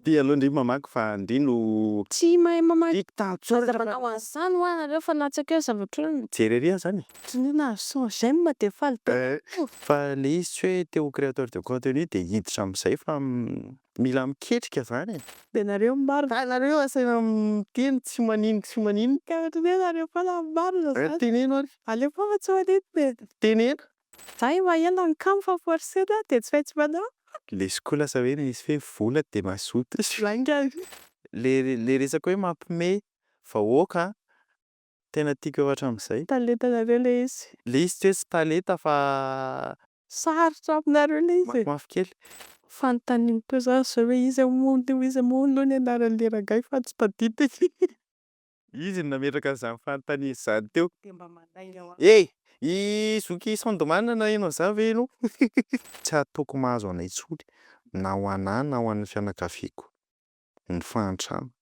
Ty aloha ndry mamaky fa ndry no. Tsy mahay mamaky aza manao an'izany hoa nareo fa latsaka eo zavatra hoe. Mijery ery aza any e. Tsonia nahazo cent j'aime dia faly be aho. Fa le izy tsy hoe te ho créateur de contenu dia hiditra amin'izay fa mila miketrika zany e. Dia nareo no marina. Ka nareo asaina miteny tsy manino tsy manino. Ka ohatran'ny hoe nareo foana no marina zany. Teneno ary. Aleo foana tsy manino e. Teneno. Zah efa ela nikamo fa forcé zah dia tsy maintsy manao. Lesoko lasa hoe misy hoe vola dia mazoto. Lainga. Le le resaka hoe mampime vahoaka an! Tena tiako efa hatramin'izay. Talentanareo le izy. Le izy tsy hoe tsy talenta fa. Sarotra aminareo le izy e! Mafimafy kely. Fanontaniako koa zany zao hoe iza moa no iza moa aloha ny anaran'le rangahy fa tsy tadidiko. Izy no nametraka an'izany fanontaniana izany teo. Dia mba mandainga ho ahy. Hey! I zoky Sandman naheno an'izany ve ianao? Tsy hataoko mahazo anay intsony, na ho an'ahy na ho an'ny fianakaviako, ny fahantrana.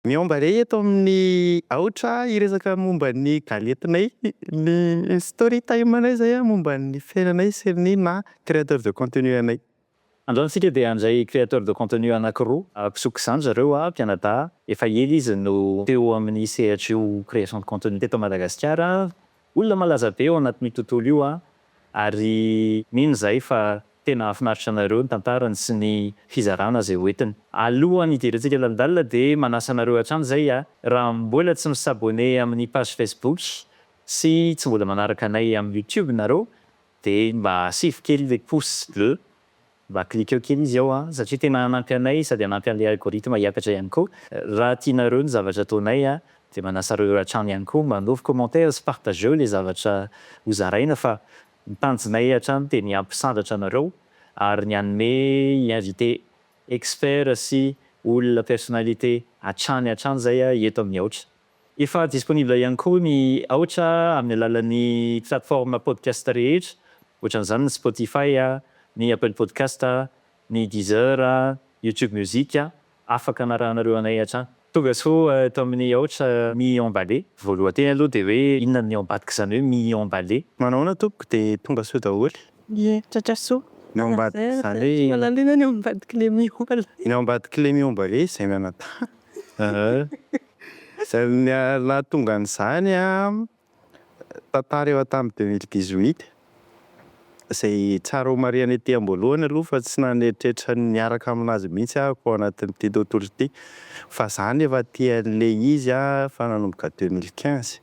Miomba re eto amin'ny aotra hiresaka momba ny galentinay ny story time anay zay a momba ny fiainanay sy ny maha créateur de contenu anay. Androany tsika dia handray créateur de contenu anakiroa mpisoko izany zareo a mpianadahy efa ela izy no teo amin'ny sehatry io création de contenu teto Madagasikara Olona malaza be ao anatin'io tontolo io aho ary mino izahay fa tena hahafinaritra anareo ny tantarany sy ny fizarana izay ho entiny. Alohan'ny hidirantsika lalindalina dia manasa anareo hatrany izay aho raha mbola tsy mi-s'abonner amin'ny page Facebook sy tsy mbola manaraka anay amin'ny YouTube nareo dia mba asivo kely ilay pouce bleu Mba cliqueo kely izy ao an, satria tena hanampy anay sady hanampy an'ilay algorithme hiakatra ihany koa. Raha tianareo ny zavatra ataonay an, dia manasa anareo hatrany ihany koa mba hanaovy commentaire sy partageo ilay zavatra ho zaraina fa ny tanjonay hatrany dia ny hampisandratra anareo ary ny hanome invité expert sy olona personnalité hatrany hatrany izay eto amin'ny aotra. Efa disponible ihany koa ny Aotra amin'ny alalan'ny plateforme podcast rehetra, ohatran'izany ny Spotify, ny Apple Podcast, ny Deezer, YouTube Music. Afaka anarahanareo anay hatrany. Tonga soa eto amin'ny Aotra mi-emballer. Voalohateny aloha dia hoe inona ny ambadika izany hoe mi-emballer? Manahoana tompoko dia tonga soa daholo. Ie, tratra soa. Ny ao ambadika izany hoe. Tsy mahalala inona ny ao ambadik'ilay mi-emballer. Ny ao ambadik'ilay mi-emballer izay mianadahy. Izay nahatonga an'izany tantara efa tamin'ny deux mille dix huit, izay tsara homarihina ety am-boalohany aloha fa tsy nanetretra ny niaraka amin'azy mihitsy aho tao anatin'ity tontolo ity fa za ny efa aty an'ilay izy efa nanomboka deux mille quinze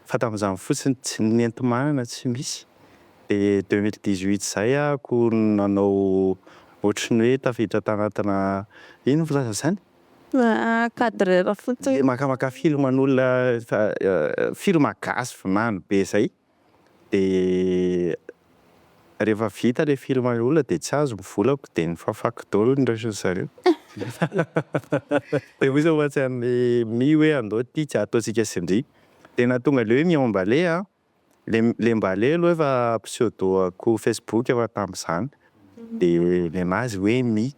fa tamin'izany fotsiny tsy nenti-manana tsy misy dia deux mille dix huit izay aho ko nanao ohatry ny hoe tafiditra tanatina ino filazana izany? Cadreur fotsiny. Le makamaka film an'olona efa film gasy vinany be zay de rehefa vita le film an'le olona de tsy azo ny volako de ny fafako daholo ny resiny zareo de ozy ohatsy an'le mi hoe andao ty tsy ataontsika sindria de nahatonga le hoe mi emballer an! Le le mba lelo efa pseudo-ko facebook efa tamzany de nenazy hoe mi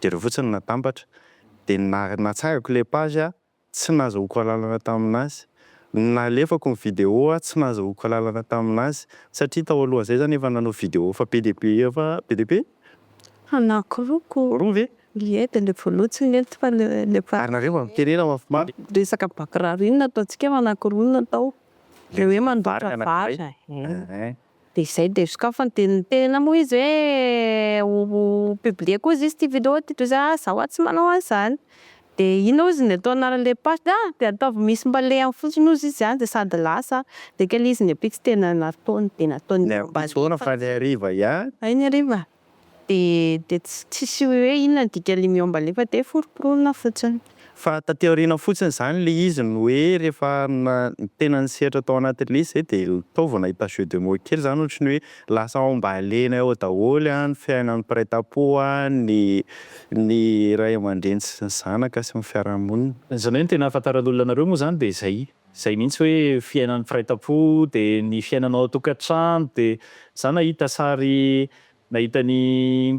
de reo fotsiny natambatra de na natsangako le page a tsy nazahoako alalana taminazy nalefako ny video a tsy nazahoako alalana taminazy satria tao alohanzay zany efa nanao video efa be de be efa be de be Anankiroko. Roa ve? Ie dia ilay voalohany tsy nety fa ilay faha. Ary nareo aho mitenena mafimafy. Resaka bakiraro iny nataontsika fa anakiroa no natao. Ilay hoe mandoatra vary e. Dia izay dia sokafany dia ny tena moa izy hoe ho publier koa izy ity vidéo ity toy izay ah za hoa tsy manao an'izany. De ino ozy ny atao anarany le paste a de ataovy misy mbalehany fotsiny ozy izy a de sady lasa de kely izy nefa tsy tena nataony de nataony mba Fotoana fa ny hariva ihany. Hay ny hariva de de tsisy hoe inona ny dikany miomba le fa de foroporoina fotsiny. Fa taty aoriana fotsiny zany le izy no hoe rehefa na tena ny sehatra tao anatin'le izy zay de taovina ahita jeu de mots kely zany ohatry ny hoe Lasa ao am-balianay ao daholo ny fiainan'ny mpiray tam-po, ny ny ray aman-dreny sy ny zanaka sy ny fiarahamonina. Izany hoe ny tena ahafantaran'ny olona anareo moa izany dia izay izay mihitsy hoe fiainan'ny mpiray tam-po dia ny fiainanao ao an-tokantrano dia za nahita sary nahita ny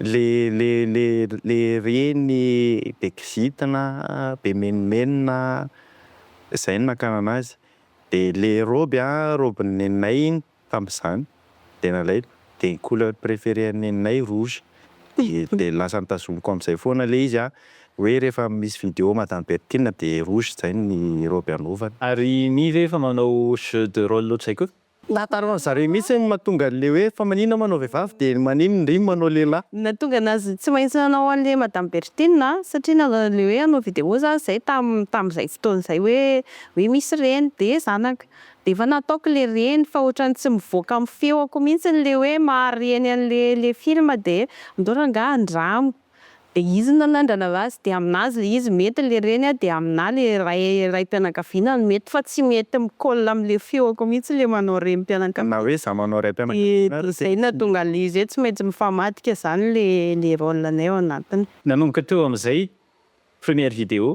Le le le le reny be kizitina be menomenona zay no nakana anazy de le robe a robin'ny neninay iny tamzany de nalaiko de ny couleur préféré an'ny neninay rouge de de lasa nitazomiko amzay foana le izy a hoe rehefa misy vidéo madame Berthine de rouge zay ny robe anaovany. Ary mi ve efa manao jeu de role ohatr'izay koa? Nahatara an zareo mihitsy ny mahatonga anle hoe fa manina ma anao vehivavy de ny manino ndry manao lehilahy. Nahatonga anazy tsy maintsy nanao anle madame Berthine a, satria nanao anle hoe hanao vidéo zany zay tam tamzay fotoana zay hoe hoe misy reny de zanaka de efa nataoko le reny fa otrany tsy mivoaka am feoko mihitsy le hoe maha reny anle le film de andao rangah andramo. dia izy no nanandrana azy dia aminazy ilay izy mety ilay reny dia aminà ilay ray raim-pianakaviana no mety fa tsy mety mi-colle amin'ilay feoko mihitsy ilay manao renim-pianakaviana na hoe za manao raim-pianakaviana ary zay no tonga an'ilay izy hoe tsy maintsy mifamadika izany ilay rôle-nay ao anatiny. Nanomboka teo amin'izay première vidéo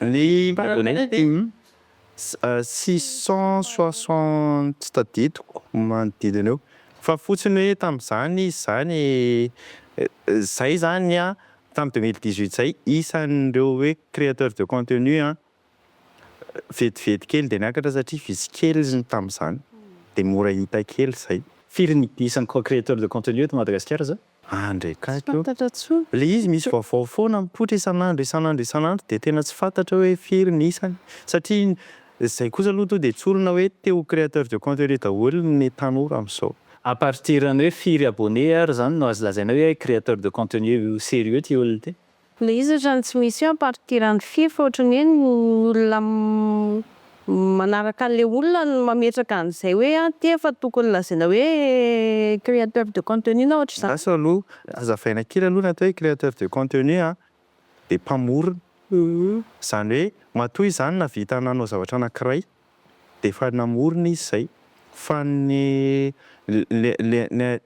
Ny Polonais dia six cent soixante tadidiko manodidina eo fa fotsiny hoe tamin'izany izy izany izay izany an tamin'ny deux mille dix huit izay isan'ireo hoe créateur de contenu an vetivety kely dia niakatra satria vitsy kely ny tamin'izany dia mora hita kely izay. Firy ny isan'ny créateur de contenu eto Madagasikara izao? Ah ndray kay ko. Tsy fantatra tsony. Le izy misy vaovao foana mipoitra isan'andro isan'andro isan'andro dia tena tsy fantatra hoe firy ny isany satria izay kosa aloha to dia tsorina hoe te ho créateur de contenu daholo ny tanora amin'izao. À partir ny hoe firy abonné ary zany no azo lazaina hoe créateur de contenu serieux ty olona ty? Le izy otrany tsy misy eo ampartirany firy fa otrany hoe ny olona manaraka anle olona no mametraka anzay hoe an ty efa tokony lazaina hoe createur de contenu na otrzany. Lasa aloha azavaina kely aloha ny atao hoe createur de contenu an dia mpamorona izany hoe matoa izy zany nahavita nanao zavatra anakiray dia efa namorona izy izay fa ny le le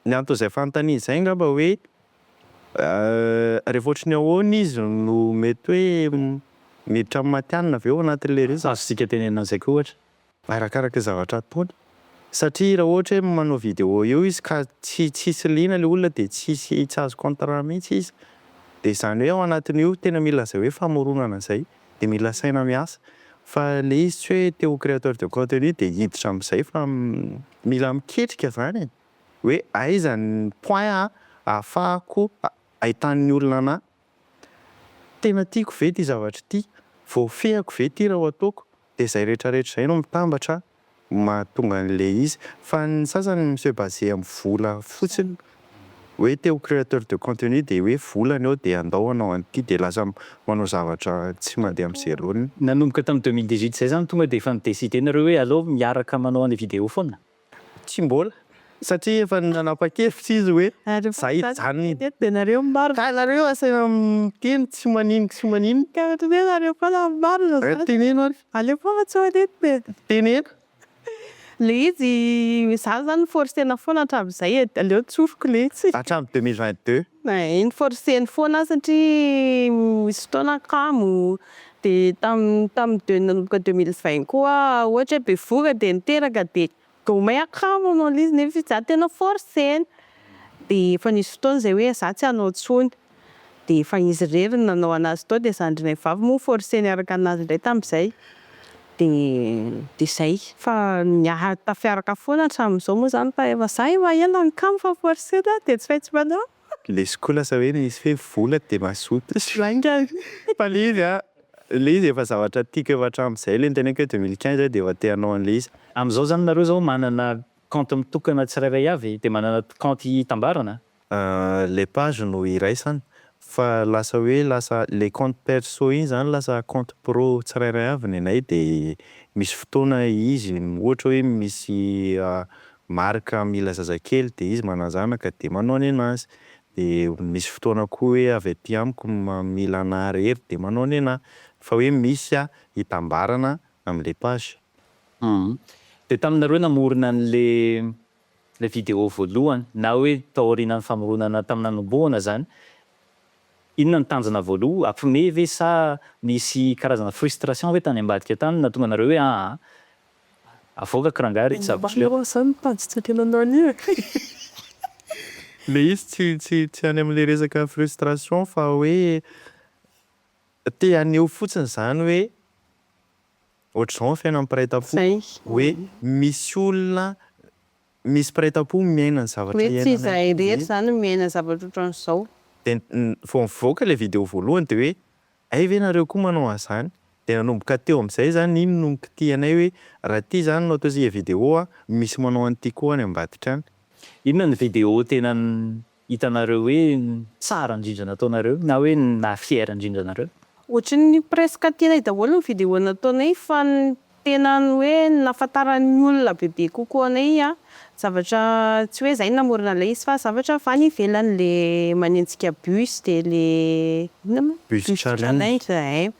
Ny anton'izay fanontaniana izay angamba hoe rehefa ohatry ny ahoana izy no mety hoe miditra amin'ny matihanina ve ao anatin'ilay resaka. Azontsika tenenina an'izay koa ohatra. Arakaraka ny zavatra ataony. Satria raha ohatra hoe manao vidéo eo izy ka tsy tsisy liana ilay olona dia tsy hisy, tsy azo contrat mihitsy izy. Dia izany hoe ao anatin'io tena mila izay hoe famoronana izay. dia mila saina miasa fa ilay izy tsy hoe te ho créateur de contenu dia hiditra amin'izay fa mila miketrika izany e! hoe aiza ny point ahafahako ahitan'ny olona anah? tena tiako ve ity zavatra ity? voafehiko ve ity raha ho ataoko? dia izay rehetrarehetra izay no mitambatra mahatonga an'ilay izy. Fa ny sasany mi se baser amin'ny vola fotsiny. Hoe te ho créateur de contenu dia hoe vola ny eo dia andao hanao an'ity dia lasa manao zavatra tsy mandeha amin'ny zerony. Nanomboka tamin'ny deux mille dix-huit izay izany tonga dia efa mi-decider nareo hoe aleo miaraka manao an'ilay vidéo foana? Tsy mbola. Satria efa nanapa-kevitra izy hoe za hijanona eny. Ka ianareo asaina miteny tsy manino tsy manino. Ka teneno ary fa la marina zany. Teneno ary. Aleo foana tsy manino e. Teneno. Le izy za zany forcena foana hatramin'izay e. Aleo tsoriko le izy. Hatramin'ny deux mille vingt deux. Ay noforceny foana aho satria nisy fotoana kamo de tam tam de nanomboka deux mille vingt koa ohatra hoe bevohoka de niteraka de Vao may akama manao an'ilay izy nefa izaho tena forcer-ny. Dia efa nisy fotoana izay hoe izaho tsy hanao intsony. Dia efa izy irery no nanao an'azy tao dia zandrinay vavy moa forcer niaraka an'azy indray tamin'izay. Dia dia izay. Fa niara-tafiaraka foana hatramin'izao moa izany fa efa izaho efa ela nikama fa forcer-na dia tsy maintsy manao. Lesy koa lasa hoe misy hoe vola dia mazoto. Lainga e! Fa le izy an, le izy efa zavatra tiako efa hatramin'izay le niteneniko hoe deux mille quinze aho dia efa te hanao an'le izy. Amin'izao izany nareo izao manana kaonty mitokana tsirairay avy dia manana kaonty hitambarana? Le page no iraisana fa lasa hoe lasa le kaonty perso iny izany lasa kaonty pro tsirairay avy ny anay dia misy fotoana izy ohatra hoe misy Marc mila zazakely dia izy manazanaka dia manao ny anazy dia misy fotoana koa hoe avy aty amiko mila anah irery dia manao ny anah fa hoe misy a itambarana amle page. Hum. Dia taminareo namorona an'ilay ilay vidéo voalohany na hoe taorianan'ny famoronana tamin'ny nanombohana izany, inona no tanjona voaloha, hampiomehy ve sa nisy karazana frustration ve tany ambadika tany nahatonga anareo hoe aa Avoakako rangah ry tsabotry leo. Mba zany ny page tsy ekena anao anio e. Le izy tsy tsy tsy any amle resaka frustration fa hoe te haneho fotsiny zany hoe ohatr'izao ny fiainan'ny mpiray tampo hoe misy olona misy mpiray tampo miaina ny zavatra iainanay hoe tsy izahay rehetra zany miaina zavatra ohatran'izao. Dia vao nivoaka ilay video voalohany dia hoe Hay ve nareo koa manao anzany? De nanomboka teo amzay zany iny no nikitihanay hoe raha ty zany no ataontsika video a, misy manao an'ity koa any ambadika any. Inona ny video tena hitanareo hoe tsara indrindra nataonareo na hoe naha fier indrindra anareo? Ohatrin'ny presque tianay daholo ny video nataonay fa ny Tena ny hoe nahafantaran'ny olona bebe kokoa anay an, zavatra tsy hoe zay namorona ilay izy fa zavatra avy any ivelany ilay manenjika bus dia le inona moa bus challenge ee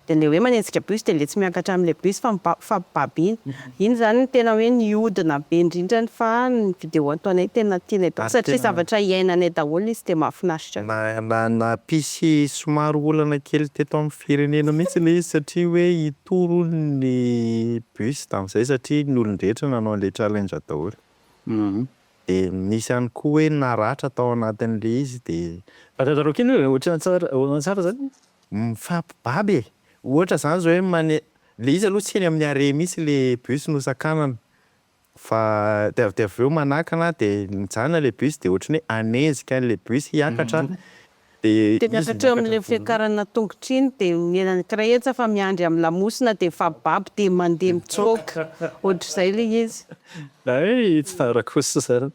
dia ilay hoe manenjika bus dia ilay tsy miakatra amin'ilay bus fa mifampibaby iny, iny izany no tena hoe nihodina be indrindra ny fa ny video ataonay tena tianay daholo satria zavatra iainanay daholo izy dia mahafinaritra. Nampisy somary olana kely teto amin'ny firenena mihitsy ilay izy satria hoe Tory hono ny bus tamin'izay satria ny olon-drehetra nanao an'ilay challenge daholo. Dia nisy ihany koa hoe naratra tao anatin'ilay izy dia. Fantantaro kely hoe ohatran'ny tsara ohatran'ny tsara izany e. Mifampibaby e! Ohatra izany izao hoe mane, ilay izy aloha tsy eny amin'ny arrêt mihitsy ilay bus nosakanana. Fa dia avy dia avy eo manakana an, dia mijanona ilay bus dia ohatran'ny hoe hanenjika an'ilay bus hiakatra an, dia izy Dia miakatra eo amin'ilay fiakarana tongotra iny dia miela ny kraetsa fa miandry amin'ny lamosina dia mifababo dia mandeha mitsoaka, ohatr'izay ilay izy. Hay tsara kosa izany.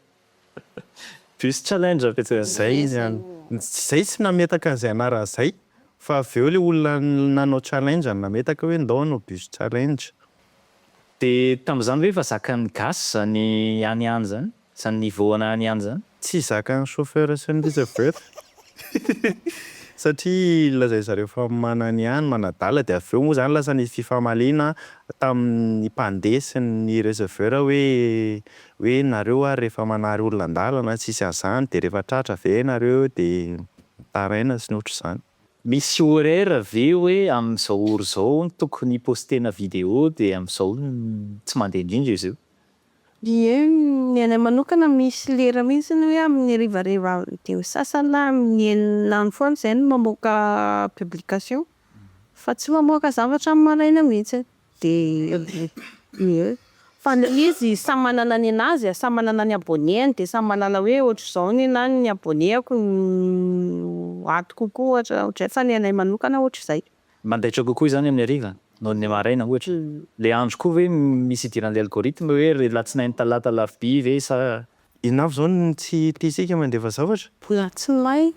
Bus challenge avy etsy avy izay izy an! Izay tsy nametaka an'izay anarana izay fa avy eo ilay olona nanao challenge no nametaka hoe ndao hanao bus challenge. Dia tamin'izany ve efa zakan'ny gasy izany any any izany? Izany niveau ana any any izany? Tsy zakan'ny chauffeur sy ny rehetra avy eo eto satria lazain'ny zareo fa manana ny any, manadala dia avy eo moa izany lasa nisy fifamaliana tamin'ny mpandeha sy ny receveur hoe Hoe nareo ary rehefa manary olona an-dalana tsisy an'izany dia rehefa tratra ve ianareo dia mitaraina sy ny ohatr'izany. Misy horaire ve hoe amin'izao heure izao no tokony hipostena vidéo dia amin'izao tsy mandeha indrindra izy io? Ie, ny anay manokana misy lera mihitsy hoe amin'ny harivariva vidéo sasany na amin'ny enina andro foana izay no mamoaka publication fa tsy mamoaka zavatra amin'ny maraina mihitsy. Dia fa le izy samy manana ny anazy a, samy manana ny abonnés-ny dia samy manana hoe ohatr'izao ny anah ny abonnés-ko no ato kokoa ohatra ohatrizay fa ny anay manokana ohatr'izay. Mandaitra kokoa izany amin'ny hariva noho ny maraina ohatra. Le andro koa ve misy idiran'le algorithme hoe ry latsinainy talata alarobia ve sa. Inona avy izao no tsy tiantsika mandefa zavatra? Latsinainy.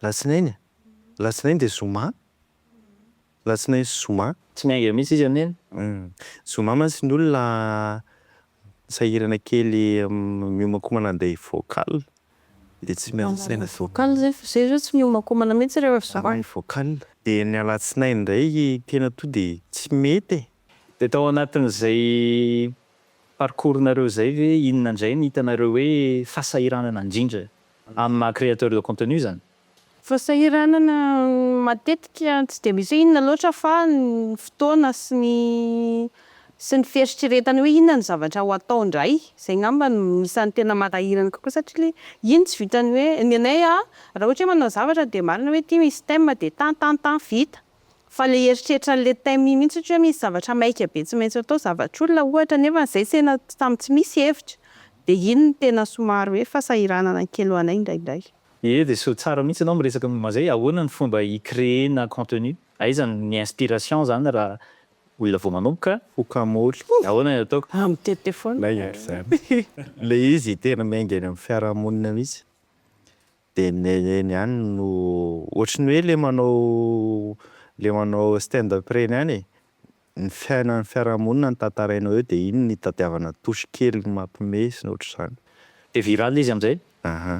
Latsinainy a? Latsinainy dia zoma? Latsinainy sy zoma. Tsy miainga mihitsy izy amin'iny. Zoma mantsy ny olona sahirana kely miomankomana handeha hivocal dia tsy miandry saina. Hivocal zay fa zay zao tsy miomankomana mihitsy rehefa zoma. Raha hivocal. Dia ny alatsinainy indray tena toa dia tsy mety e. Dia tao anatin'izay parcours nareo izay ve inona indray no hitanareo hoe fahasahiranana indrindra amin'ny maha créateur de contenu izany? Fahasahiranana matetika tsy dia misy hoe inona loatra fa ny fotoana sy ny sy ny fieritreretana hoe inona ny zavatra ho atao indray. Izay angamba no isan'ny tena manahirana kokoa satria le iny tsy vitan'ny hoe, ny anay a raha ohatra hoe manao zavatra dia marina hoe ity misy thème dia tan tan tan vita. Fa le eritreritra an'le thème iny mihitsy satria hoe misy zavatra maika be tsy maintsy atao, zavatr'olona ohatra nefa izay tena samy tsy misy hevitra dia iny no tena somary hoe fahasahiranana kely ho anay indraindray. Ye Jesoa, tsara mihitsy anao miresaka momba zay, ahoana ny fomba hi créer-na contenu? Aiza ny inspiration zany raha olona vao manomboka? Foka moly. Ahoana ny ataoko? Aah mitete foana. Maigny ary zany. Le izy tena miainga eny amin'ny fiarahamonina mihitsy dia ny eny ihany no ohatry ny hoe le manao le manao stand up reny ihany e. ny fiainan'ny fiarahamonina no tantaraina eo dia iny no itadiavana touche kely mampime sy ny ohatr'izany. Dia viral izy amin'izay. Aha.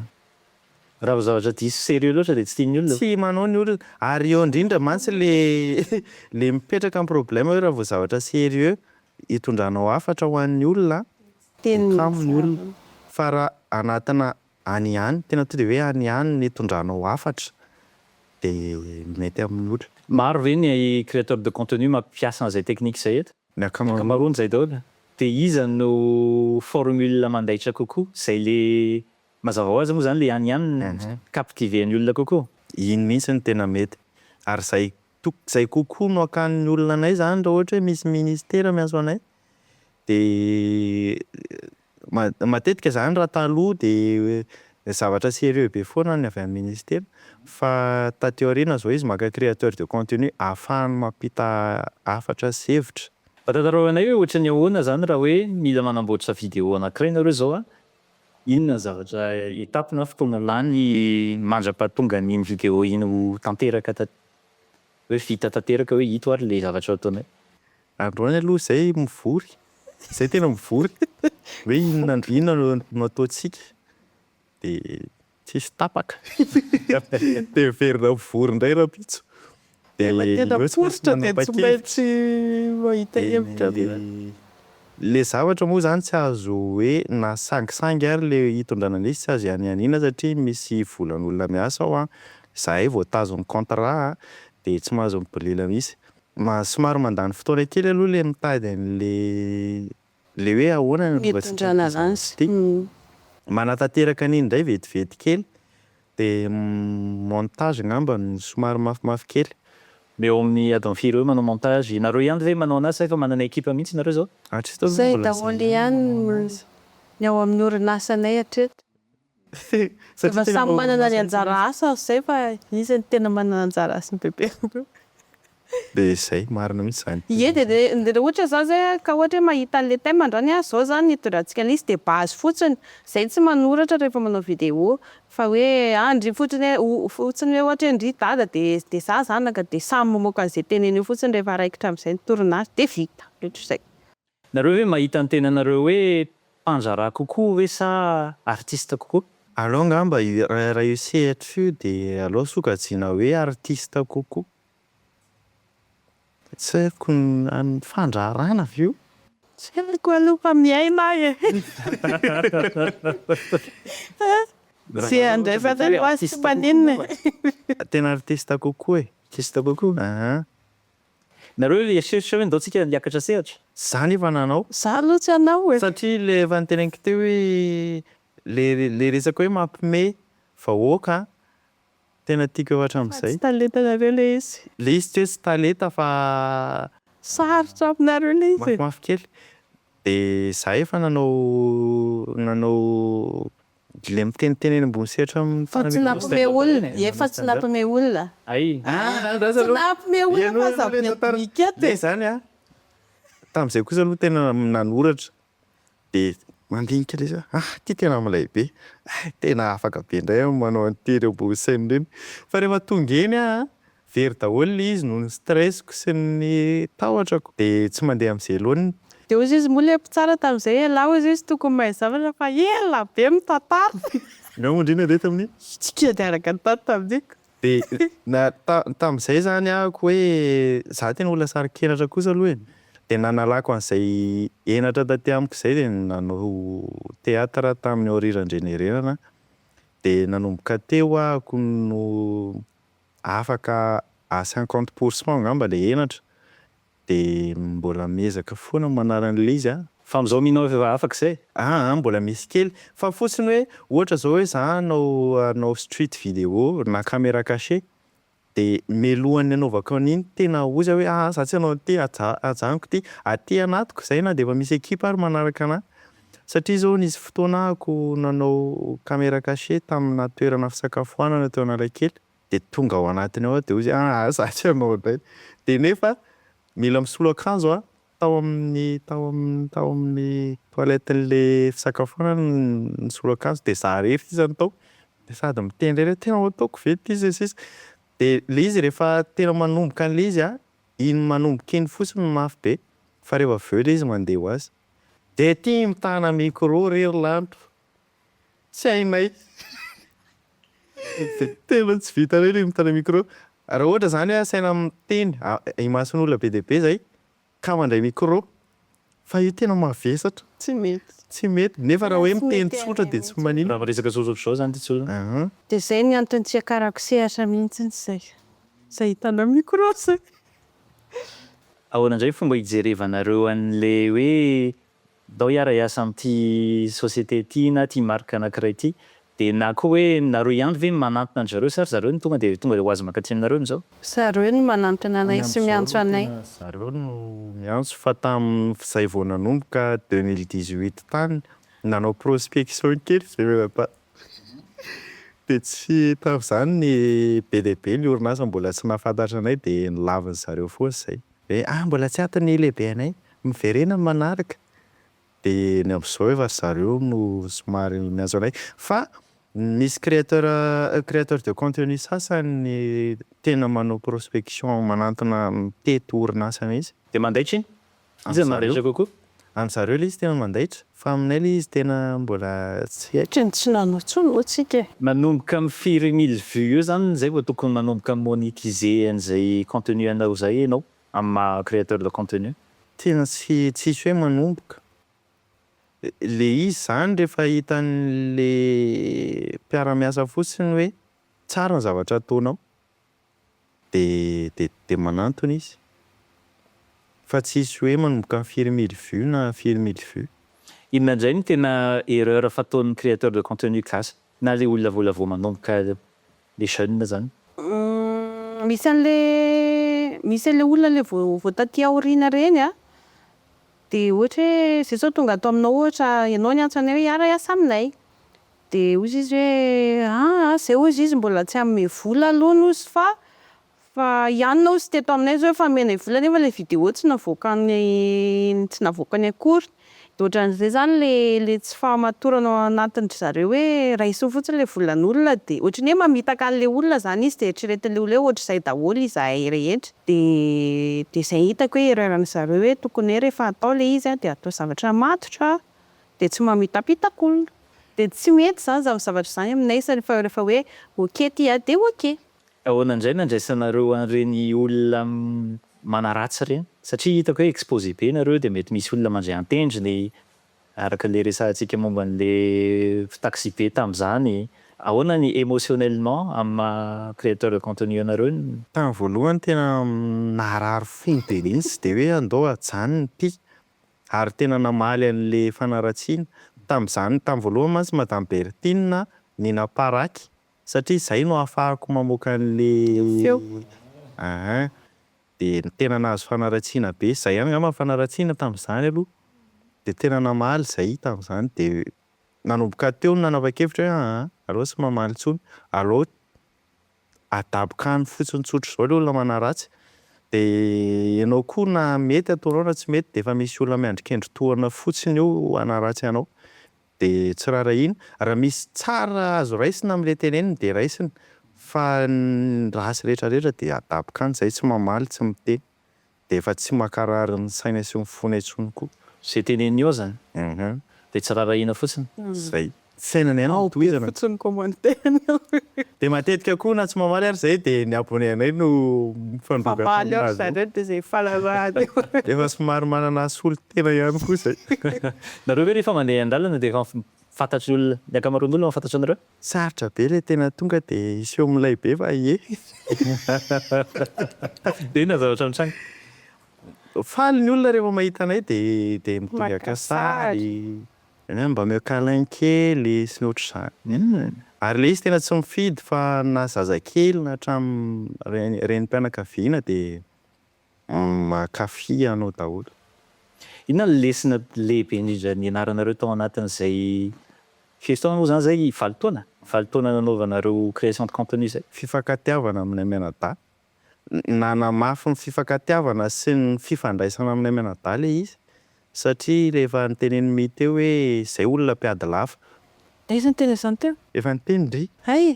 Raha vao zavatra diso sérieux loatra dia tsy tian'ny olona. Tsy manao ny olona. Ary eo indrindra mantsy ilay mipetraka ny problème hoe raha vao zavatra sérieux itondranao hafatra ho an'ny olona dia kamo ny olona. Fa raha anatina Any ihany, tena tonga dia hoe any ihany ny hitondranao hafatra dia mety amin'ny olona. Maro ve ny créateur de contenu mampiasa an'izay technique izay eto? Ny ankamaroany izay daholo. Dia iza no formule mandaitra kokoa? Izay le mazava ho azy moa izany le any ihany no mi-captiver ny olona kokoa. Iny mihitsy no tena mety. Ary izay izay kokoa no hakan'ny olona anay izany raha ohatra hoe misy ministera miantso anay Dia matetika izany raha taloha dia zavatra sérieux be foana ny avy amin'ny Ministera fa taty aoriana izao izy maka créateur de contenu ahafahany mampita hafatra sy hevitra. Mba tantarao anay hoe ohatran'ny ahoana izany raha hoe mila manamboatra vidéo anankiray nareo izao an? Inona ny zavatra étape na fotoana lany mandra-pahatonga an'iny vidéo iny ho tanteraka hoe vita tanteraka hoe ito ary ilay zavatra ataonay? Androany aloha zay mivory, zay tena mivory hoe inona inona no no ataontsika de tsisy tapaka de miverina mivory indray rampitso de le tena miforitra de tsy maintsy mahita hevitra avy eo. Le zavatra moa zany tsy azo hoe na sangisangy ary le hitondrana an'izy tsy azo ihanianiana satria misy volan'olona miasa ao an, zahay vao tazon'ny contrat an de tsy mahazo mibolila mihitsy Maha somary mandany fotoana kely aloha le mitady an'le le hoe ahoana no mba tsy tian'ity zanako ity. Manatanteraka an'iny indray vetivety kely dia montage angamba no somary mafimafy kely. Mba eo amin'ny adiny firy eo manao montage? Ianareo ihany ve manao anazy sa efa manana ekipa mihitsy ianareo izao? Hatreto aloha mbola izay ihany no manao anazy. Izay daholo ihany ny ao amin'ny orinasanay hatreto. Efa samy manana ny anjara asany zay fa iza no tena manana anjara asa ny bebe aloha. Dia izay, marina mihitsy izany. Ie dia raha ohatra izany izay an, ka ohatra hoe mahita an'ilay thème andrany an, izao izany ny hitondrantsika an'lay izy dia base fotsiny, izay no tsy manoratra rehefa manao vidéo, fa hoe an ndry fotsiny hoe o, fotsiny hoe ohatra hoe ndry dada dia dia za zanaka dia samy mamoaka an'izay teneny eo fotsiny rehefa raikitra amin'izay ny tournage dia vita, ohatr'izay. Nareo ve mahita ny tenanareo hoe mpandraharaha kokoa ve sa artiste kokoa? Aleo angamba raha io sehatra io dia aleo sokajiana hoe artiste kokoa. Tsy haiko ny fandraharahana ve io? Tsy haiko aloha fa miaina aho e! Tsy handray fanahy ho azy tsy maninona e! Tena artiste kokoa e! Artiste kokoa? Aa! Nareo ry eritreritra hoe ndao tsika hiakatra sehatra. Za nefa nanao. Za aloha tsy hanao e. Satria le efa niteneniko teo hoe le le resaka hoe mampime vahoaka an, tena tiako efa hatramizay. Fa tsy talentanareo le izy. Le izy tsy hoe tsy talenta fa. Sarotra aminareo le izy e. Mafimafy kely. De za efa nanao nanao Ilay miteniteny eny ambony sehatra amin'ny Fa tsy nampome olona e, fa tsy nampome olona e. Tsy nampome olona fa za mety mi-ket e. Zany a, tamin'izay kosa aloha tena nanoratra dia mandinika ilay izy hoe ah ity tena milay be, hay tena afaka be indray aho manao an'ity ireo boussem ireny. Fa rehefa tonga eny aho a. Very daholo ilay izy noho ny stress-ko sy ny tahotrako dia tsy mandeha amin'ny velony. Dia hozy izy moa ilay mpitsara tamin'izay ialahy hozy izy tokony mahay zavatra fa ela be mitantara. Nga moa ndry nandeha tamin'io? Tsy kely dia araka ny tany taminiko. Dia na ta tamin'izay izany ahako hoe za tena olona sarin-kenatra kosa aloha e. Dia nanalako an'izay henatra taty amiko izay dia nanao theatre tamin'ny Aorira Andrianerenana aho. Dia nanomboka teo ahako no afaka à cinquante pour cent angamba ilay henatra dia mbola miezaka foana manala an'ilay izy an! Fa amin'izao mino aho efa afaka izay? Aa mbola misy kely fa fotsiny hoe ohatra izao hoe za hanao hanao street video na camera cache dia mialohan'ny hanaovako an'iny tena oza hoe aa za tsy hanao an'ity ajanoko ity aty anatiko izay na dia efa misy equipe ary manaraka anah Satria izao nisy fotoana ako nanao camera cachée tamina toerana fisakafoanana teo Analakely dia tonga ao anatiny ao aho dia hoy izy ah ah zatra ianao indray dia nefa mila misolo akanjo aho tao amin'ny tao amin'ny tao amin'ny toilette n'le fisakafoanana aho no nisolo akanjo dia za irery sisa no tao dia sady miteny indray le tena ho ataoko ve ity sy ny sisa dia le izy rehefa tena manomboka an'le izy ah iny manomboka iny fotsiny no mafy be fa rehefa avy eo le izy mandeha ho azy. Dia aty mitana micro re ry lanto. Tsy hainay. Tena tsy vitanay ilay mitana micro. Raha ohatra izany hoe asaina miteny imason'olona be dia be izay ka mandray micro. Fa io tena mavesatra. Tsy mety. Tsy mety. Nefa raha hoe miteny tsotra dia tsy maninona. Raha miresaka tsotra ohatr'izao izany dia tsy olana. Dia izay ny antony tsy hiakarako sehatra mihitsy izay. Izay hitana micro izay. Ahoana indray fomba hijerevanareo an'le hoe ndao hiara hiasa amin'ity société ity na ity marque anankiray ity dia na koa hoe nareo ihany ve no manantona an-dry zareo sa ry zareo no tonga dia tonga dia ho azy mankaty aminareo amin'izao? Zareo no manantona anay sy miantso anay. Zareo no miantso fa tamin'izay vao nanomboka deux mille dix-huit tany nanao prospection kely izay mianadahy. Dia tsy tafy izany ny be dia be ny orinasa mbola tsy nahafantatra anay dia nolavin'ny zareo foana izay hoe ah mbola tsy ato ny lehibe anay, miverena ny manaraka. Dia ny amin'izao efa ry zareo no somary miantso anay. Fa misy créateur créateur de contenu sasany tena manao prospection manantona mitety orinasa mihitsy. Dia mandaitra iny Iza no mandaitra kokoa? Any zareo ilay izy tena mandaitra, fa aminay ilay izy tena mbola tsy hay. Ohatran'ny tsy nanao intsony moa tsika e. Manomboka am firy mille vues eo zany zay vao tokony manomboka monetiser an'izay contenu anao zay enao am maha createur de contenu? Tena tsy tsisy hoe manomboka. Le izy zany rehefa hitan'le mpiara-miasa fotsiny hoe tsara ny zavatra ataonao dia dia manantona izy fa tsy hisy hoe manomboka amin'ny firy mille vues na firy mille vues. Inona indray no tena erreur fataon'ny créateur de contenu gasy na le olona vao lavo manomboka le jeune zany? Misy anle misy anle olona le vao vao taty aoriana reny a de ohatra hoe zay zao tonga ato aminao ohatra ianao niantso anay hoe hiara hiasa aminay Dia hozy izy hoe, ah ah, izay hozy izy mbola tsy hanome vola aloha hozy fa fa hianona hozy teto aminay izao efa nomenay vola nefa ilay vidéo tsy navoakany tsy navoakany akory. Dia ohatran'izay izany ilay ilay tsy fahamatorana ao anatin-dry zareo hoe raiso fotsiny ilay volan'olona dia ohatran'ny hoe mamitaka an'ilay olona izany izy dia eritreretin'ilay olona hoe ohatr'izay daholo izahay rehetra. Dia dia izay hitako hoe erreur-n'i zareo hoe tokony hoe rehefa atao ilay izy dia atao zavatra matotra dia tsy mamitapitaka olona. Dia tsy mety izany izany zavatra izany aminay sady fa rehefa hoe ok ity a dia ok. Ahoana indray no andraisanareo an'ireny olona manaratsy ireny? Satria hitako hoe exposé be nareo dia mety misy olona mandray an-tendrony araka ilay resahantsika momba an'ilay taxibe tamin'izany. Ahoana ny émotionnellement amin'ny maha créateur de contenu anareo ny. Tamin'ny voalohany tena naharary fony be mihitsy dia hoe andao ajanony ity ary tena namaly an'le fanaratsiana tamin'izany tamin'ny voalohany mantsy madame Berthine ny naparaky satria izay no ahafahako mamoaka an'le feo aa de tena nahazo fanaratsiana be zay ihany angamba ny fanaratsiana tamin'izany aloha de tena namaly zay tamin'izany de nanomboka teo no nanapa-kevitra hoe aa aleo tsy mamaly intsony aleo adaboka any fotsiny tsotra izao ilay olona manaratsy dia ianao koa na mety ataonao na tsy mety dia efa misy olona miandry kendry tohana fotsiny eo hanaratsy anao dia tsy raharahiana, raha misy tsara azo raisina amin'ilay teneniny dia raisina fa ny ratsy rehetra rehetra dia adaboka any izay tsy mamaly tsy miteny. dia efa tsy mankarary ny saina sy ny fona intsony koa. Izay teneniny eo izany dia tsy rarahina fotsiny. Izay. Fiainana ihany no tohizana. Ao be fotsiny ny commentaire-ny ao. Dia matetika koa na tsy mamaly ary izay dia ny abonné anay no mifandroaka taminareo. Mamaly aoka izany hoe dia izay fahalalahana eo. Efa somary manana solontena ihany koa izay. Nareo ve rehefa mandeha an-dalana dia efa fantatr'olona, ny ankamaroan'olona efa fantatry anareo? Sarotra be ilay tena tonga dia hiseho milay be fa ie. Dia inona zavatra nitranga? Faly ny olona rehefa mahita anay dia dia mitongaka sary, mba ameo câlin kely sy ny ohatr'izany. Ary ilay izy tena tsy mifidy fa na zazakely na hatramin'ny renim-pianakaviana dia Mankafy anao daholo. Inona no lesona lehibe indrindra nianaranareo tao anatin'izay fiestona moa izany izay valo taona? Valo taona nanaovanareo création de contenu izay? Fifankatiavana aminay mianadahy. Nanamafy ny fifankatiavana sy ny fifandraisana aminay mianadahy ilay izy. Satria ilay efa notenenin'i My teo hoe izay olona mpiady lafa. Aiza ny teny izany teo? Efa niteny ndry. Hay e!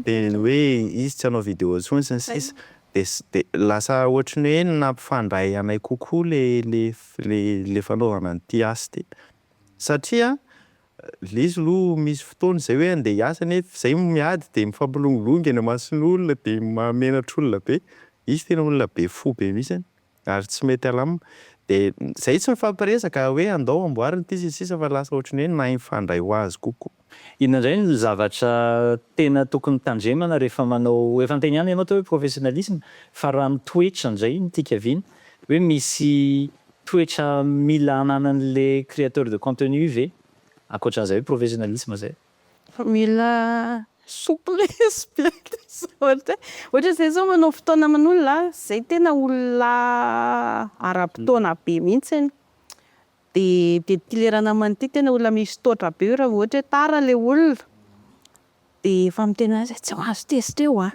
Dia ny hoe izy tsy hanao video intsony sy ny sisa. Dia lasa ohatry ny hoe nampifandray anay kokoa ilay fanaovana an'ity asa ity. Satria izy aloha misy fotoana izay hoe handeha hiasa nefa izay miady dia mifampilongilongy eny imason'olona dia mahamenatr'olona be. Izy tena olona be fo be mihitsy. Ary tsy mety alam. Dia izay tsy mifampiresaka hoe andao amboary ity sy ny sisa fa lasa ohatry ny hoe nahy mifandray ho azy kokoa. Inona indray no zavatra tena tokony tandremana rehefa manao, efa niteny ihany ianao teo hoe professionnalisme, fa raha ny toetra indray no tiaka viana, hoe misy toetra mila ananan'ilay créateur de contenu ve ankoatran'izay hoe professionnalisme izay? Fa mila souplesse be le zaoty e! Ohatra zay zao manao fotoana aman'olona a, zay tena olona ara-potoana be mihitsy iny, de de ty lerana aman'ity tena olona misy taotra be io raha vao ohatra hoe tara le olona de efa miteny hoe za tsy mahazo tezitra eo a!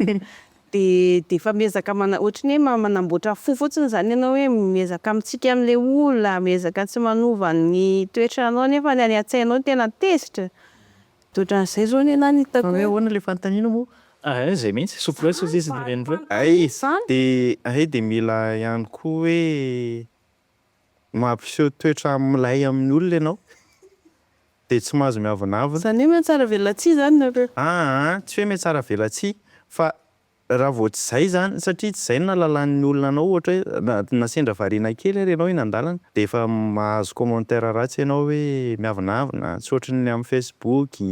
dia dia efa miezaka mana ohatry ny hoe manamboatra fo fotsiny izany ianao hoe miezaka mitsiky an'ilay olona, miezaka tsy manova ny toetranao nefa ny any an-tsainao tena tezitra, dia ohatran'izay izao ny ahy no hitako hoe. Fa hoe ahoana ilay fanontaniana moa? Hay izay mihitsy, souplesse hoy izy ireny hoe. Hay dia hay dia mila ihany koa hoe. mampiseho toetra milay amin'ny olona ianao dia tsy mahazo miavonavona. Izany hoe mihatsaravelatsihy izany nareo. Aa, tsy hoe mihatsaravelatsihy fa raha vao tsy izay izany, satria tsy izay no nahalalan'ny olona anao, ohatra hoe na sendra variana kely ary ianao eny an-dalana dia efa mahazo commentaire ratsy ianao hoe miavonavona, tsy ohatry ny amin'ny facebook,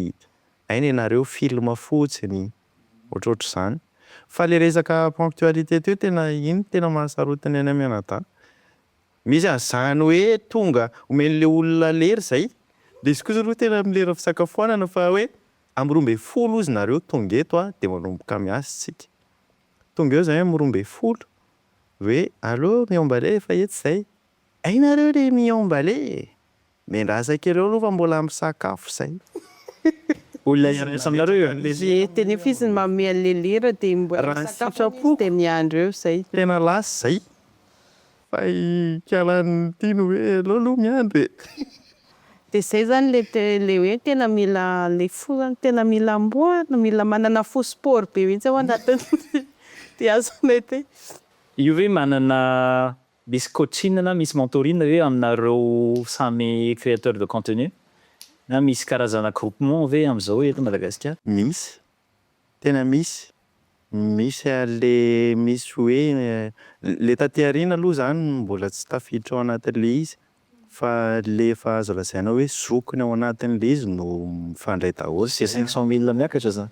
aina ianareo, film fotsiny. ohatrohatr'izany. Fa le resaka ponctualité teo tena iny no tena mahasarotiny anay mianadahy. Misy an'izany hoe tonga omen'ilay olona lera izay, dia izy kosa aloha tena amin'ny lera fisakafoanana fa hoe amin'ny roa ambin'ny folo hozy nareo tonga eto a, dia manomboka miasa isika. Tonga eo izahay amin'ny roa ambin'ny folo, hoe allo miomba lait efa etsy izay, hay nareo le miomba lait e! Miandrasa kely eo aloha fa mbola misakafo zay. Olona hiandrasa aminareo eo lesy. Dia tena efa izy no manome an'ilay lera dia mbola misakafo anie izy dia miandry eo izay. Tena lasa izay. Fa hikalan'ny ity no hoe aleo aloha miandry e. Dia izay izany ilay hoe tena mila ilay fo izany tena mila amboarina, mila manana fo sport be mihitsy ao anatin'ny dia azo mety. Io ve manana misy coaching na misy mentoring ve aminareo samy créateur de contenu? Na misy karazana groupement ve amzao eto Madagasikara? Misy, tena misy, misy ary le misy hoe le taty aoriana aloha zany mbola tsy tafiditra ao anatin'le izy. Fa le efa azo lazaina hoe zokiny ao anatiny le izy no mifandray daholo. Ze cinq cent mille miakatra zany.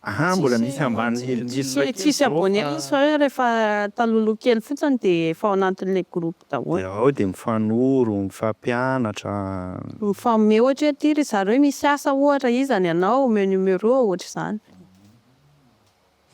Ahaa mbola misy ambany mille mille Tsisy ndray tsisy abonné mihitsy fa hoe refa taloloha kely fotsiny de efa ao anatin'ilay groupe daholo. De ao de mifanoro, mifampianatra. Mifanome ohatra hoe ty ry zareo misy asa ohatra iza ny anao omeo numéro ohatr'izany.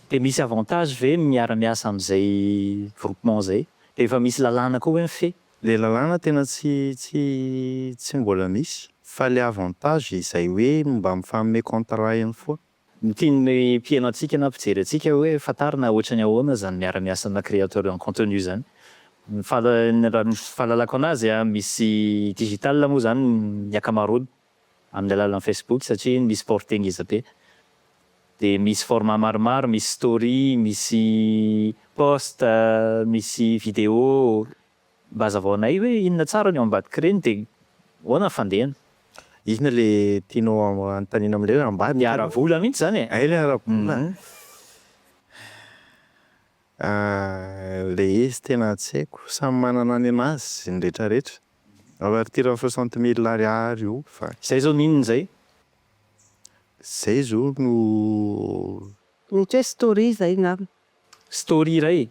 De misy avantage ve ny miara miasa amzay groupement zay? De efa misy lalàna koa hoe mifehy? Le lalàna tena tsy tsy tsy mbola misy fa le avantage izay hoe mba mifanome contrat ihany foana. Ny tian'ny mpiheno antsika na mpijery antsika hoe fantarina ohatrany ahoana zany miara-miasa amina créateur en contenu zany. Ny fahal- ny raha ny fahalalako anazy an, misy digital moa zany ny akamaroany amin'ny alalan'ny Facebook satria misy portée ngeza be. Dia misy format maromaro, misy story, misy post, misy video. Mba hazavao anay hoe inona tsara ny ao ambadik'ireny dia ahoana ny fandehany. Inona ilay tianao hanontaniana amin'ilay hoe ambadika? Ny ara-bola mihitsy izany e! Hay ilay ara-bola an! Ilay izy tena tsy haiko, samy manana ny an'azy ny retraretra. Avertirany soixante mille ariary io fa. Zay zao n'inona izay? Zay zao no. Mety hoe story izay ngamba. Story iray?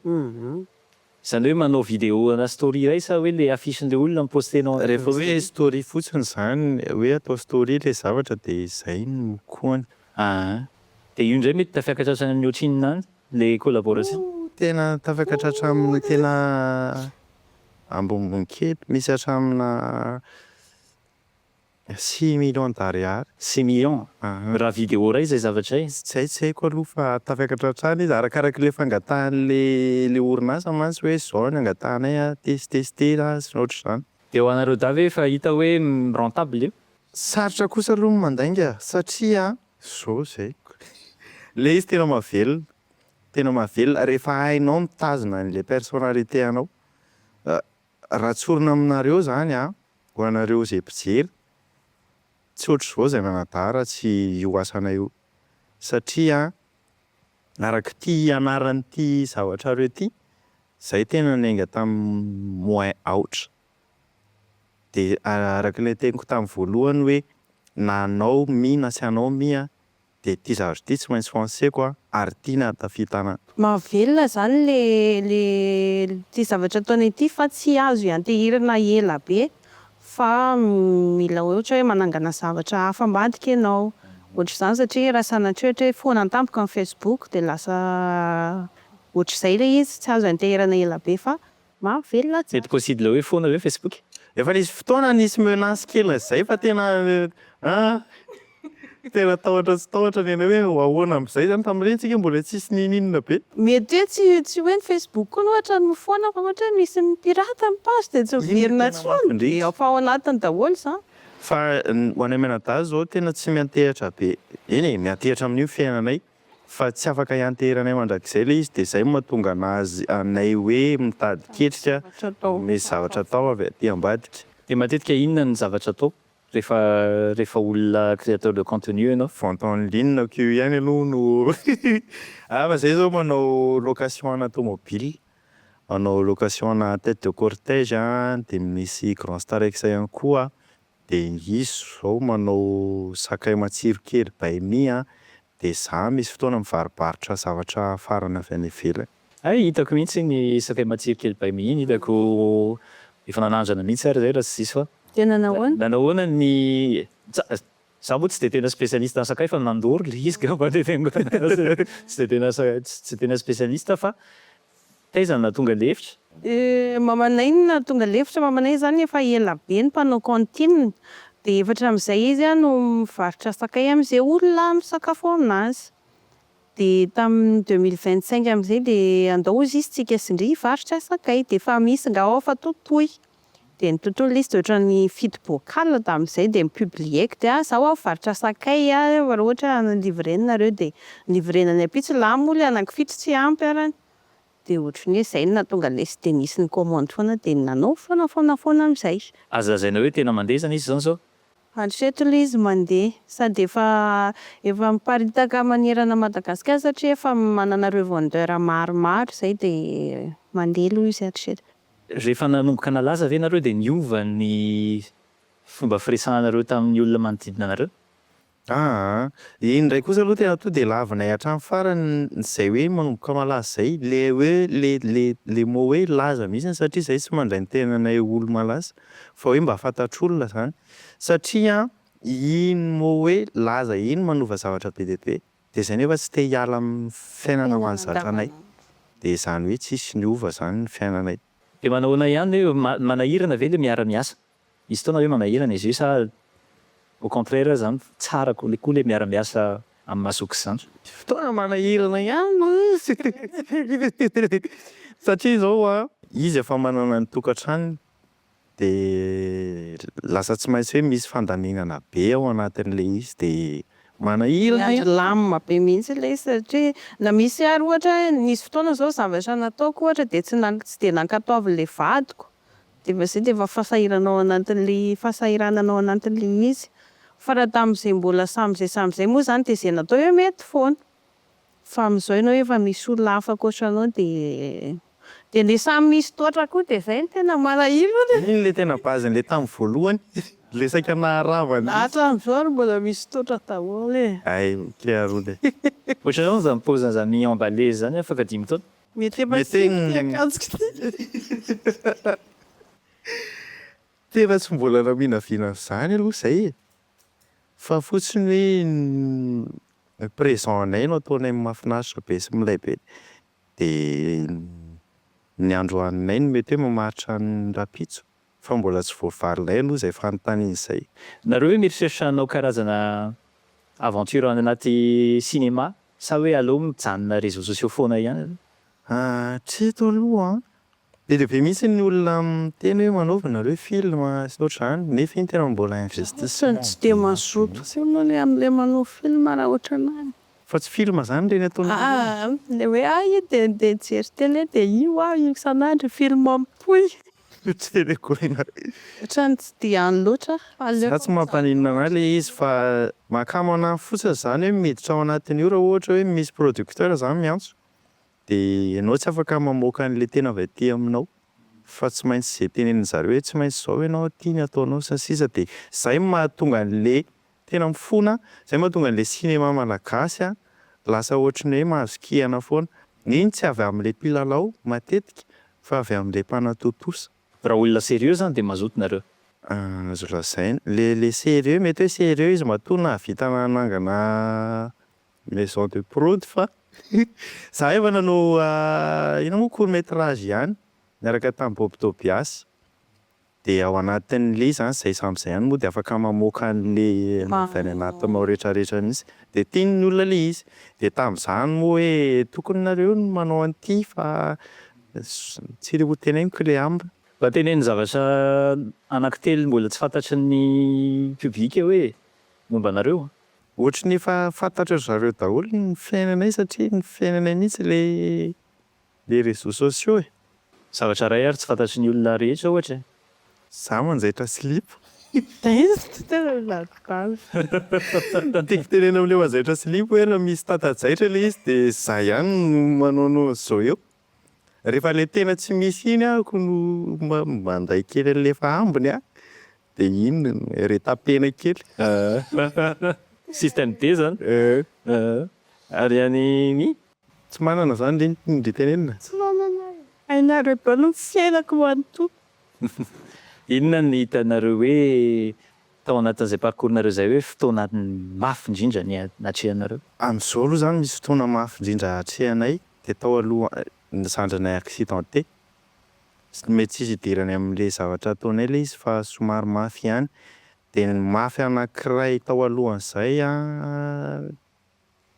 Izany hoe manao vidéo ana story iray sa hoe le affiche-n'le olona mi-poster-nao any? Rehefa hoe story fotsiny izany, hoe atao story le zavatra de izay no koany. Aa! De io indray mety tafiakatra hatrany amin'ny ohatrinona any le collaboration? Tena tafiakatra hatramin'ny tena. Ambonibonikely misy hatramina six millions d'ariary. Six millions an! Raha vidéo iray izay zavatra izay? Izay tsy haiko aloha fa tafakatra hatrany izy, arakaraky ilay fangatahan'ilay orinasa mantsy hoe izao ny angatahanay an, test-tester an, sy ny ohatr'izany. Dia ho anareo dahy ve efa hita hoe rentable io? Sarotra kosa aloha ny mandainga satria an! Izao izay. Ilay izy tena mahavelona. Tena mahavelona rehefa hainao mitazona an'ilay personnalité anao. Raha tsorina aminareo zany an, ho anareo izay mpijery, tsy ohatr'izao izay nanadara tsy io asanay io. Satria arak'ity ianaran'ity zavatrareo ity, zay tena niainga tamin'ny moins aotra. Dia arak'ilay teniko tamin'ny voalohany hoe na hanao mi na tsy hanao mi an, Dia ity zavatra ity tsy maintsy ho anseko an, ary ity ny ahatafitana. Mahavelona izany ilay ilay ity zavatra ataonay ity fa tsy azo ianteherana ela be fa mila ohatra hoe manangana zavatra hafa ambadika ianao ohatr'izany satria raha sanatria ohatra hoe foana tampoka ny facebook dia lasa ohatr'izay ilay izy tsy azo ianteherana ela be fa Maro velona tsara. Mety possible hoe foana ve Facebook? Efa nisy fotoana nisy menace kely zay fa tena ah tena tahotra tsy tahotra ny anay hoe ho ahoana amzay zany tamin'ireny tsika mbola tsisy nininona be. Mety hoe tsy tsy hoe ny Facebook koa ohatra no foana fa ohatra hoe misy mi pirate ny page dia tsy miverina intsony dia efa ao anatiny daholo izany. Fa ho anay mianadahy zao tena tsy miantehatra be eny e miantehatra amin'io fiainanay. Fa tsy afaka ianteheranay mandrakizay ilay izy dia izay no mahatonga anazy anay hoe mitady ketrika ny zavatra atao avy aty ambadika. Dia matetika inona ny zavatra atao rehefa rehefa olona créateur de contenu ianao? Vente en ligne ok io ihany aloha no ah fa zay zao manao location ana tomobile, manao location ana tete de cortège an, dia misy grand star ex ihany koa de izy zao manao sakay matsiro kely by me a, de za misy fotoana mivaribarotra zavatra afarana avy any ivelany. Hay hitako mihitsy iny sakay matsiro kely by me iny hitako efa nanandrana mihitsy ary zay raha tsy diso aho. Tena nahoana? Na nahoana ny za moa tsy dia tena spécialiste amin'ny sakay fa nandoro ilay izy ngamba dia tsy dia tena spécialiste fa Taiza na tonga lefitra? Euh mamanay na tonga lefitra mamanay zany efa ela be no mpanao cantine de efa hatramizay izy a no mivarotra sakay amze olona misakafo aminazy de tamin'ny deux mille vingt cinq amzay de andao hozy izy tsika sy ndry hivarotra sakay de efa misy nga ao fa totoy. dia ny tontolo izy dia ohatran'ny fito bocal tamin'izay dia mi-publier-ko dia ahy zao aho mivarotra sakay a raha ohatra any livrena nareo dia livrena any ampitsy lahy moa ilay anaky fito tsy ampy ary an dia ohatry ny hoe izay no nahatonga lesy dia nisy ni-commande foana dia nanao foana foana foana amin'izay. Azo lazaina hoe tena mandeha izany izy izany izao? Hatreto ilay izy mandeha sady efa efa miparitaka manerana Madagasikara satria efa manana revendeur maromaro izay dia mandeha aloha izy hatreto. Rehefa nanomboka nalaza ve nareo dia niova ny fomba firesahanareo tamin'ny olona manodidina anareo? Aa, iny indray kosa aloha tena tonga dia lavinay hatramin'ny farany izay hoe manomboka malaza izay, ilay hoe le le le mot hoe laza mihitsy satria izahay tsy mandray ny tenanay ho olo-malaza fa hoe mba fantatr'olona izany satria iny mot hoe laza iny manova zavatra be dia be. Dia izay nefa tsy te hiala amin'ny fiainana ho an'ny zandrinay. Dia izany hoe tsisy niova izany ny fiainanay. Dia manahoana ihany hoe manahirana ve ilay miara miasa? Misy fotoana hoe manahirana izy io sa au contraire aza an, tsara kokoa ilay miara miasa amin'ny maha zoky zandry? Misy fotoana manahirana ihany satria izao an, izy efa manana ny tokantranony dia lasa tsy maintsy hoe misy fandaminana be ao anatin'ilay izy dia manahirana e! Milamina be mihitsy ilay izy satria na misy ary ohatra nisy fotoana izao zavatra nataoko ohatra dia tsy na tsy dia nankatoavin'ilay vadiko dia efa izay dia efa fahasahiranana ao anatin'ilay fahasahiranana ao anatin'ilay izy fa raha tamin'izay mbola samy izay samy izay moa izany dia izay natao eo mety foana. Fa amin'izao ianao efa misy olona hafa ankoatra anao dia dia ilay samy misy toatra koa dia izay no tena malahelo an e! Iny ilay tena base-ny ilay tamin'ny voalohany ilay saika naharava an'iny. Hatramin'izao ary mbola misy toatra daholo e! Hay mety ary hono e! Ohatranao izany paoziny izany mi-emballer izany afaka dimy taona? Mety efa tsy tiako ity akanjoko ity. Tena tsy mbola naminavina an'izany aloha izay e! Fa fotsiny hoe ny présent anay no ataonay mahafinaritra be sy milay be dia ny androaninay no mety hoe mamaritra ny rahampitso fa mbola tsy voavalinay aloha izay fanontaniana izay. Nareo ve mieritreritra hanao karazana aventure any anaty cinéma sa hoe aleo mijanona réseaux sociaux foana ihany aloha? Hatreto aloha an, be dia be mihitsy ny olona miteny hoe manaova nareo film sy ohatr'izany nefa iny tena mbola investissement be dia be mihitsy. Ohatran'ny tsy dia mazoto aloha le amle manao film raha ohatran'ny ahy. Fa tsy film izany ireny ataonareo ireny e. Aa le hoe ahy io dia ndeha nijery tele dia io aho io isan'andro film mitohy. Tele koi na. Ohatran'ny tsy dia any loatra aho. Za tsy mampaninona anah le izy fa mahakamo anah fotsiny zany hoe miditra ao anatin'io raha ohatra hoe misy producteur zany miantso. De enao tsy afaka mamoaka anle tena avy aty aminao fa tsy maintsy ze tenenin zareo hoe tsy maintsy zao enao aty ny ataonao sy ny sisa de zay mahatonga anle tena mifona zay mahatonga anle cinéma malagasy a lasa ohatry ny hoe mahazo kihana foana neny tsy avy amle mpilalao matetika fa avy amle mpanatontosa. Raha olona serieux zany de mazoto nareo. Azo lazaina le le serieux mety hoe serieux izy matoa nahavita nanangana Maison de prod fa za efa nanao inona moa court metrage ihany niaraka tamin'i Bob Tobias dia ao anatin'ilay izy zany izay samy izay ihany moa dia afaka mamoaka an'ilay avy any anatinao retraretra mihintsy dia tian'ny olona ilay izy dia tamin'izany moa hoe tokony nareo no manao an'ity fa tsy ho teneniko le amb. Mba teneno zavatra anaky telo mbola tsy fantatry ny public hoe momba anareo. Ohatry ny efa fantatry ry zareo daholo ny fiainanay satria ny fiainanay mihitsy ilay les réseaux sociaux e. Zavatra iray ary tsy fantatry ny olona rehetra ohatra e. Za manjaitra slip. Izy ty tena ladidany. Tiako tenenina amin'ilay manjaitra slip hoe raha misy tata-jaitra ilay izy dia za ihany no manao anao an'izao eo. Rehefa ilay tena tsy misy iny ako no manday kely an'ilay efa ambiny an, dia iny reta-pena kely. Système D zany. Ary any Ny? Tsy manana zany ry tenenina. Tsy manana ary. Hainareo daholo ny fiainako manontolo. Inona no hitanareo hoe tao anatin'izay parcours nareo izay hoe fotoana mafy indrindra niatrehanareo? Amin'izao aloha zany misy fotoana mafy indrindra atrehanay Dia tao aloha ny zandrinay accidenté. Tsy mety tsisy idirany amin'ilay zavatra ataonay ilay izy fa somary mafy ihany. Dia ny mafy anankiray tao alohan'izay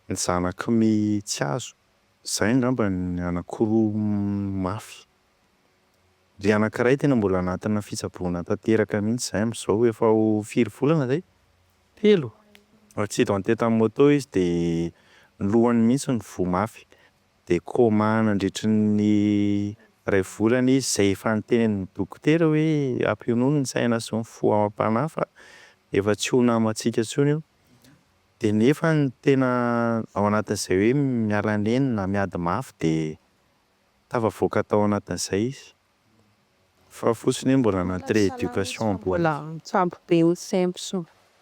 ny zanak'i Me Tsiazo. Izay angamba ny anankiroa mafy. Ilay anankiray tena mbola anatina fitsaboana tanteraka mihitsy izay amin'izao efa ho firy volana izay? Telo, accidenté tamin'ny moto izy dia ny lohany mihitsy no voa mafy. Dia coma nandritry ny iray volana izy izay efa nitenenin'ny dokotera hoe ampionono ny saina sy ny fo amam-panahy fa efa tsy ho namantsika intsony io. Dia nefa ny tena ao anatin'izay hoe miala neny na miady mafy dia tafavoaka tao anatin'izay izy. Fa fotsiny hoe mbola anaty rééducation am bois. Mbola mitsampy be ny cemps.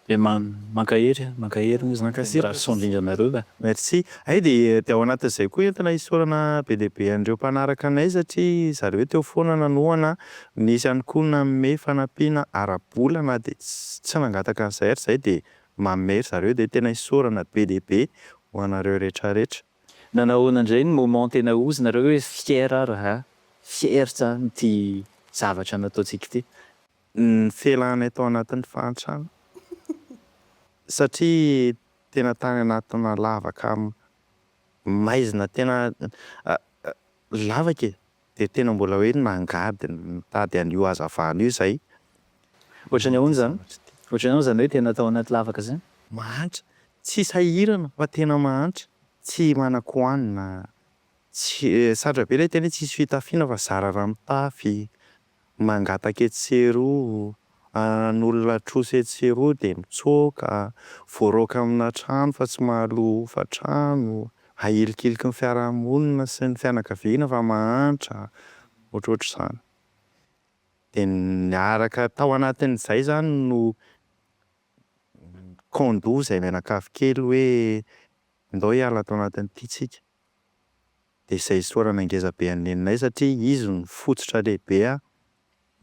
Dia mankahery a, mankahery ny génération dringanareo ka. Merci. Hay dia dia ao anatin'izay koa entina isaorana be dia be an'ireo mpanaraka anay satria zareo teo foana nanohana, nisy ihany koa nanome fanampiana ara-bola na dia tsy nangataka an'izay ary izay dia manome ry zareo dia tena isaorana be dia be ho anareo rehetra rehetra. Nanahoana indray ny moment tena hozonareo hoe fier ary ha, fier tsara amin'ity zavatra nataontsika ity. Ny fialanay tao anatin'ny fahantrana satria tena tany anatina lavaka maizina tena lavaka e! dia tena mbola hoe nangady nitady an'io hazavana io izay. Ohatry ny ahoana izany? Ohatry ny ahoana izany hoe tena tao anaty lavaka izany? Mahantra, tsy sahirana fa tena mahantra, tsy manan-kohanina, tsy, sarotra be ilay teny hoe tsisy fitafiana fa zara raha mitafy, mangataka etsy sy eroa, an'olona trosa etsy sy eroa dia mitsoaka, voaraoka amina trano fa tsy mahaloa hofan-trano, ahilikiliky ny fiarahamonina sy ny fianakaviana fa mahantra, ohatrohatr'izany. Dia niaraka tao anatin'izay izany no con-doha izay mianakavy kely hoe ndao hiala ato anatin'ity tsika. dia izay isaorana ngeza be an'i Neninay satria izy no fototra lehibe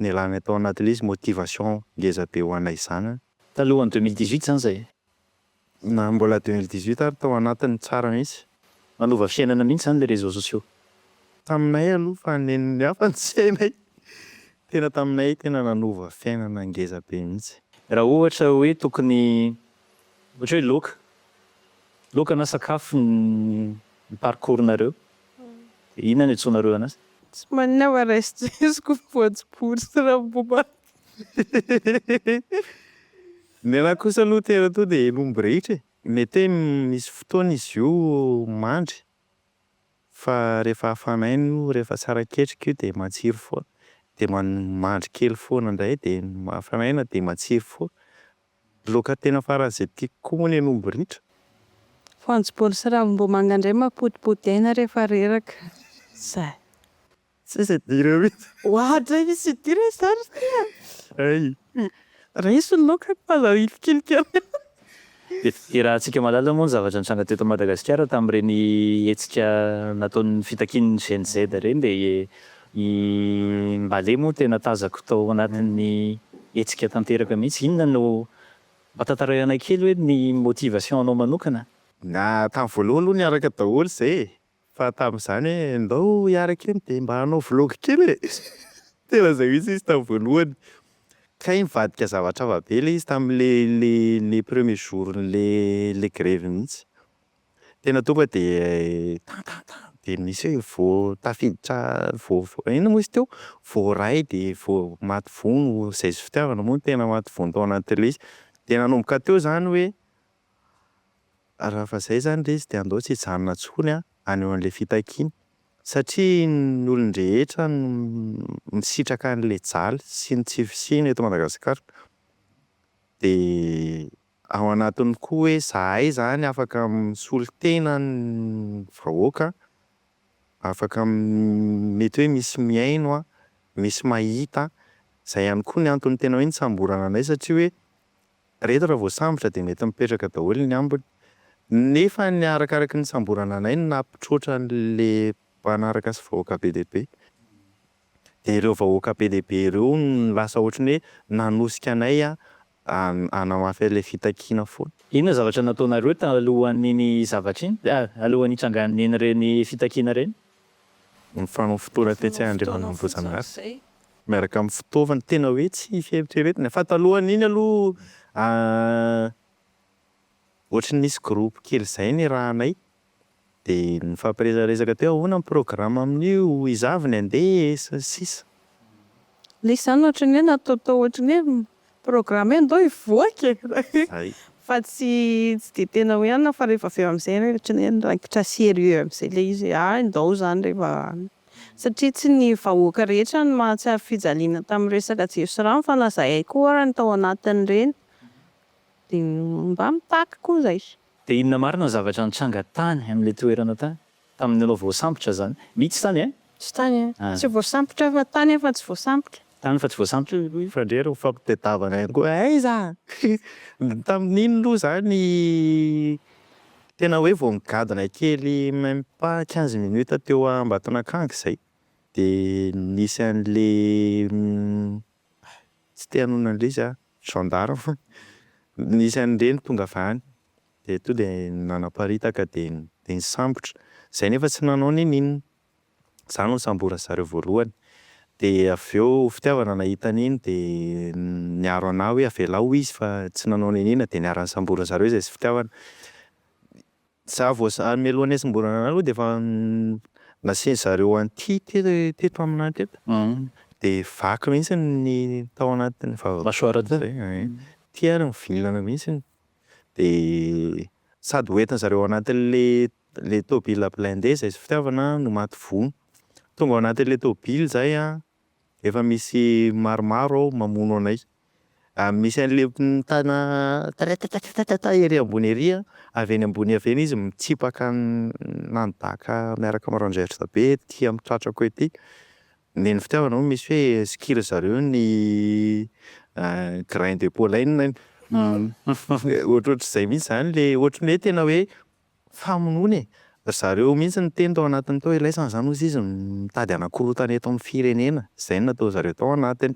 nialanay tao anatin'ilay izy, motivation ngeza be ho anay izany an. Talohan'ny deux mille dix-huit izany izay, na mbola deux mille dix-huit ary tao anatiny tsara mihitsy. Manova fiainana mihitsy izany ilay réseaux sociaux. Taminay aloha fa ny nen'ny hafa no tsy hainay, tena taminay tena nanova fiainana ngeza be mihitsy. Raha ohatra hoe tokony Ohatra hoe laoka, laoka na sakafo ny parcours nareo dia inona no iantsoanareo anazy? Tsy maninona fa raisin-tseziko ny voanjobory sy ravimbomanga. Ny anahy kosa aloha tena tonga dia hen'omby rehetra e! Mety hoe misy fotoana izy io mandry fa rehefa hafan'aina io, rehefa tsara ketrika io dia matsiro foana, dia mandry kely foana indray dia hafan'aina dia matsiro foana. Loka tena faran'izay tiako koa moa ny an'omby ritra. Voanjobory sy ravimbomanga indray mampodipody aina rehefa reraka. Zay. Tsisy idirany mihitsy. Oa hatrizay misy idirany zany ry tia a! Hay. Raiso ny loka fa aza hilikilika eo. Dia fiderahantsika malala moa ny zavatra nitranga teto Madagasikara tamin'ireny hetsika nataon'ny fitakian'ny Gen Z ireny dia I Mbale moa tena tazako tao anatin'ny hetsika tanteraka mihitsy. Inona no, mba tantaraio anay kely hoe ny motivation anao manokana? Na tamin'ny voalohany aloha niaraka daholo izay e! Fa tamin'izany hoe ndao hiaraka eny dia mba hanao vlog kely e! Tena izay mihitsy izy tamin'ny voalohany. Kay nivadika zavatr'hafa be ilay izy tamin'ilay ilay premier jour-n'ilay ilay grevy mihitsy. Tena tonga de tan tan tan de misy hoe vo tafiditra vo inona moa izy teo voaray de vo maty vono zay sy fitiavana moa no tena maty vono tao anatin'ilay izy de nanomboka teo zany hoe raha efa zay zany le izy de andao tsy hijanona tsony an any ho an'ilay fitakiana satria ny olon-drehetra no misitraka an'ilay jaly sy ny tsy fisiana eto Madagasikara de Ao anatiny koa hoe zahay zany afaka misolo tena ny vahoaka, afaka mety hoe misy mihaino, misy mahita, izay ihany koa ny antony tena hoe nisamborana anay satria hoe reto raha voasambotra dia mety mipetraka daholo ny ambiny, nefa ny arakaraky ny nisamborana anay no nampitroatra an'ilay mpanaraka sy vahoaka be dia be, dia ireo vahoaka be dia be ireo no lasa ohatran'ny hoe nanosika anay hanamafy an'ilay fitakiana foana. Inona ny zavatra nataonareo talohan'iny zavatra iny, alohan'ny hitrangan'ireny fitakiana ireny? Nifanao fotoana tetsy Andriana Ambohijanahary miaraka amin'ny fitaovana, tena hoe tsy fieritreretina fa talohan'iny aloha ohatry ny nisy groupe kely izay nirahanay Dia nifampiresaresaka teo ahoana ny programa amin'io, izaho avy ny handeha e, sy ny sisa. Ilay izy izany ohatran'ny hoe nataotao ohatran'ny hoe programa hoe ndao hivoaka e! Hay. Fa tsy dia tena hoe anona fa rehefa avy eo amin'izay hoe ohatran'ny hoe niraikitra sérieux amin'izay ilay izy hoe hay ndao izany rehefa satria tsy ny vahoaka rehetra no mahatsiaro fijaliana tamin'ny resaka jiro sy rano fa na izahay koa ary ny tao anatin'ireny dia mba mitaky koa izay. Dia inona marina ny zavatra nitranga tany amin'ilay toerana tany, tamin'ny nanao voasambotra izany? Mitsy tany eh? Tsy tany eh? Tsy voasambotra fa tany eh fa tsy voasambotra. Tany fa tsy voasambotra. Fa ndrey ry mifampitadiavana ihany koa eh aiza? Tamin'iny aloha za ny tena hoe vao nigadona kely même pas quinze minutes teo Ambatonakanga izay dia nisy an'ilay Tsy te hanohina an'ilay izy aho, gendarme nisy an'ireny tonga avy any dia tonga dia nanaparitaka dia dia nisambotra, izay nefa tsy nanao n'inon'inona, izaho no nisamboran'ny zareo voalohany, dia avy eo fitiavana nahita an'iny dia niaro an'ahy hoe avelao izy fa tsy nanao n'inon'inona dia niara-nisamboran'ny zareo izay sy fitiavana, Za vao zary mialoha nisy mbola nanao aloha dia efa nasian-dry zareo anti teto aminay teto dia vaky mihitsy ny tao anatin'ny aty ary mivilana mihitsy dia sady ho entin-dry zareo anatin'ilay tômôbila blindé izay fitiavana no maty voa. Tonga ao anatin'ilay tômôbila izahay an, efa misy maromaro ao mamono anay, misy an'le mitana tatatatatatata ery ambony ery a, avy eny ambony avy eny izy mitsipaka manibaka miaraka amin'ny rangers be ety amin'ny tratrako ety, neny fitiavana moa misy hoe skill zareo ny grain de pollen, ohatrohatr'izay mihintsy zany le ohatry ny hoe tena hoe. Famonoana e! Ry zareo mihitsy niteny tao anatiny tao ilaisana izany hozy izy mitady hanakorotana eto amin'ny firenena. Izay no nataon'ny zareo tao anatiny.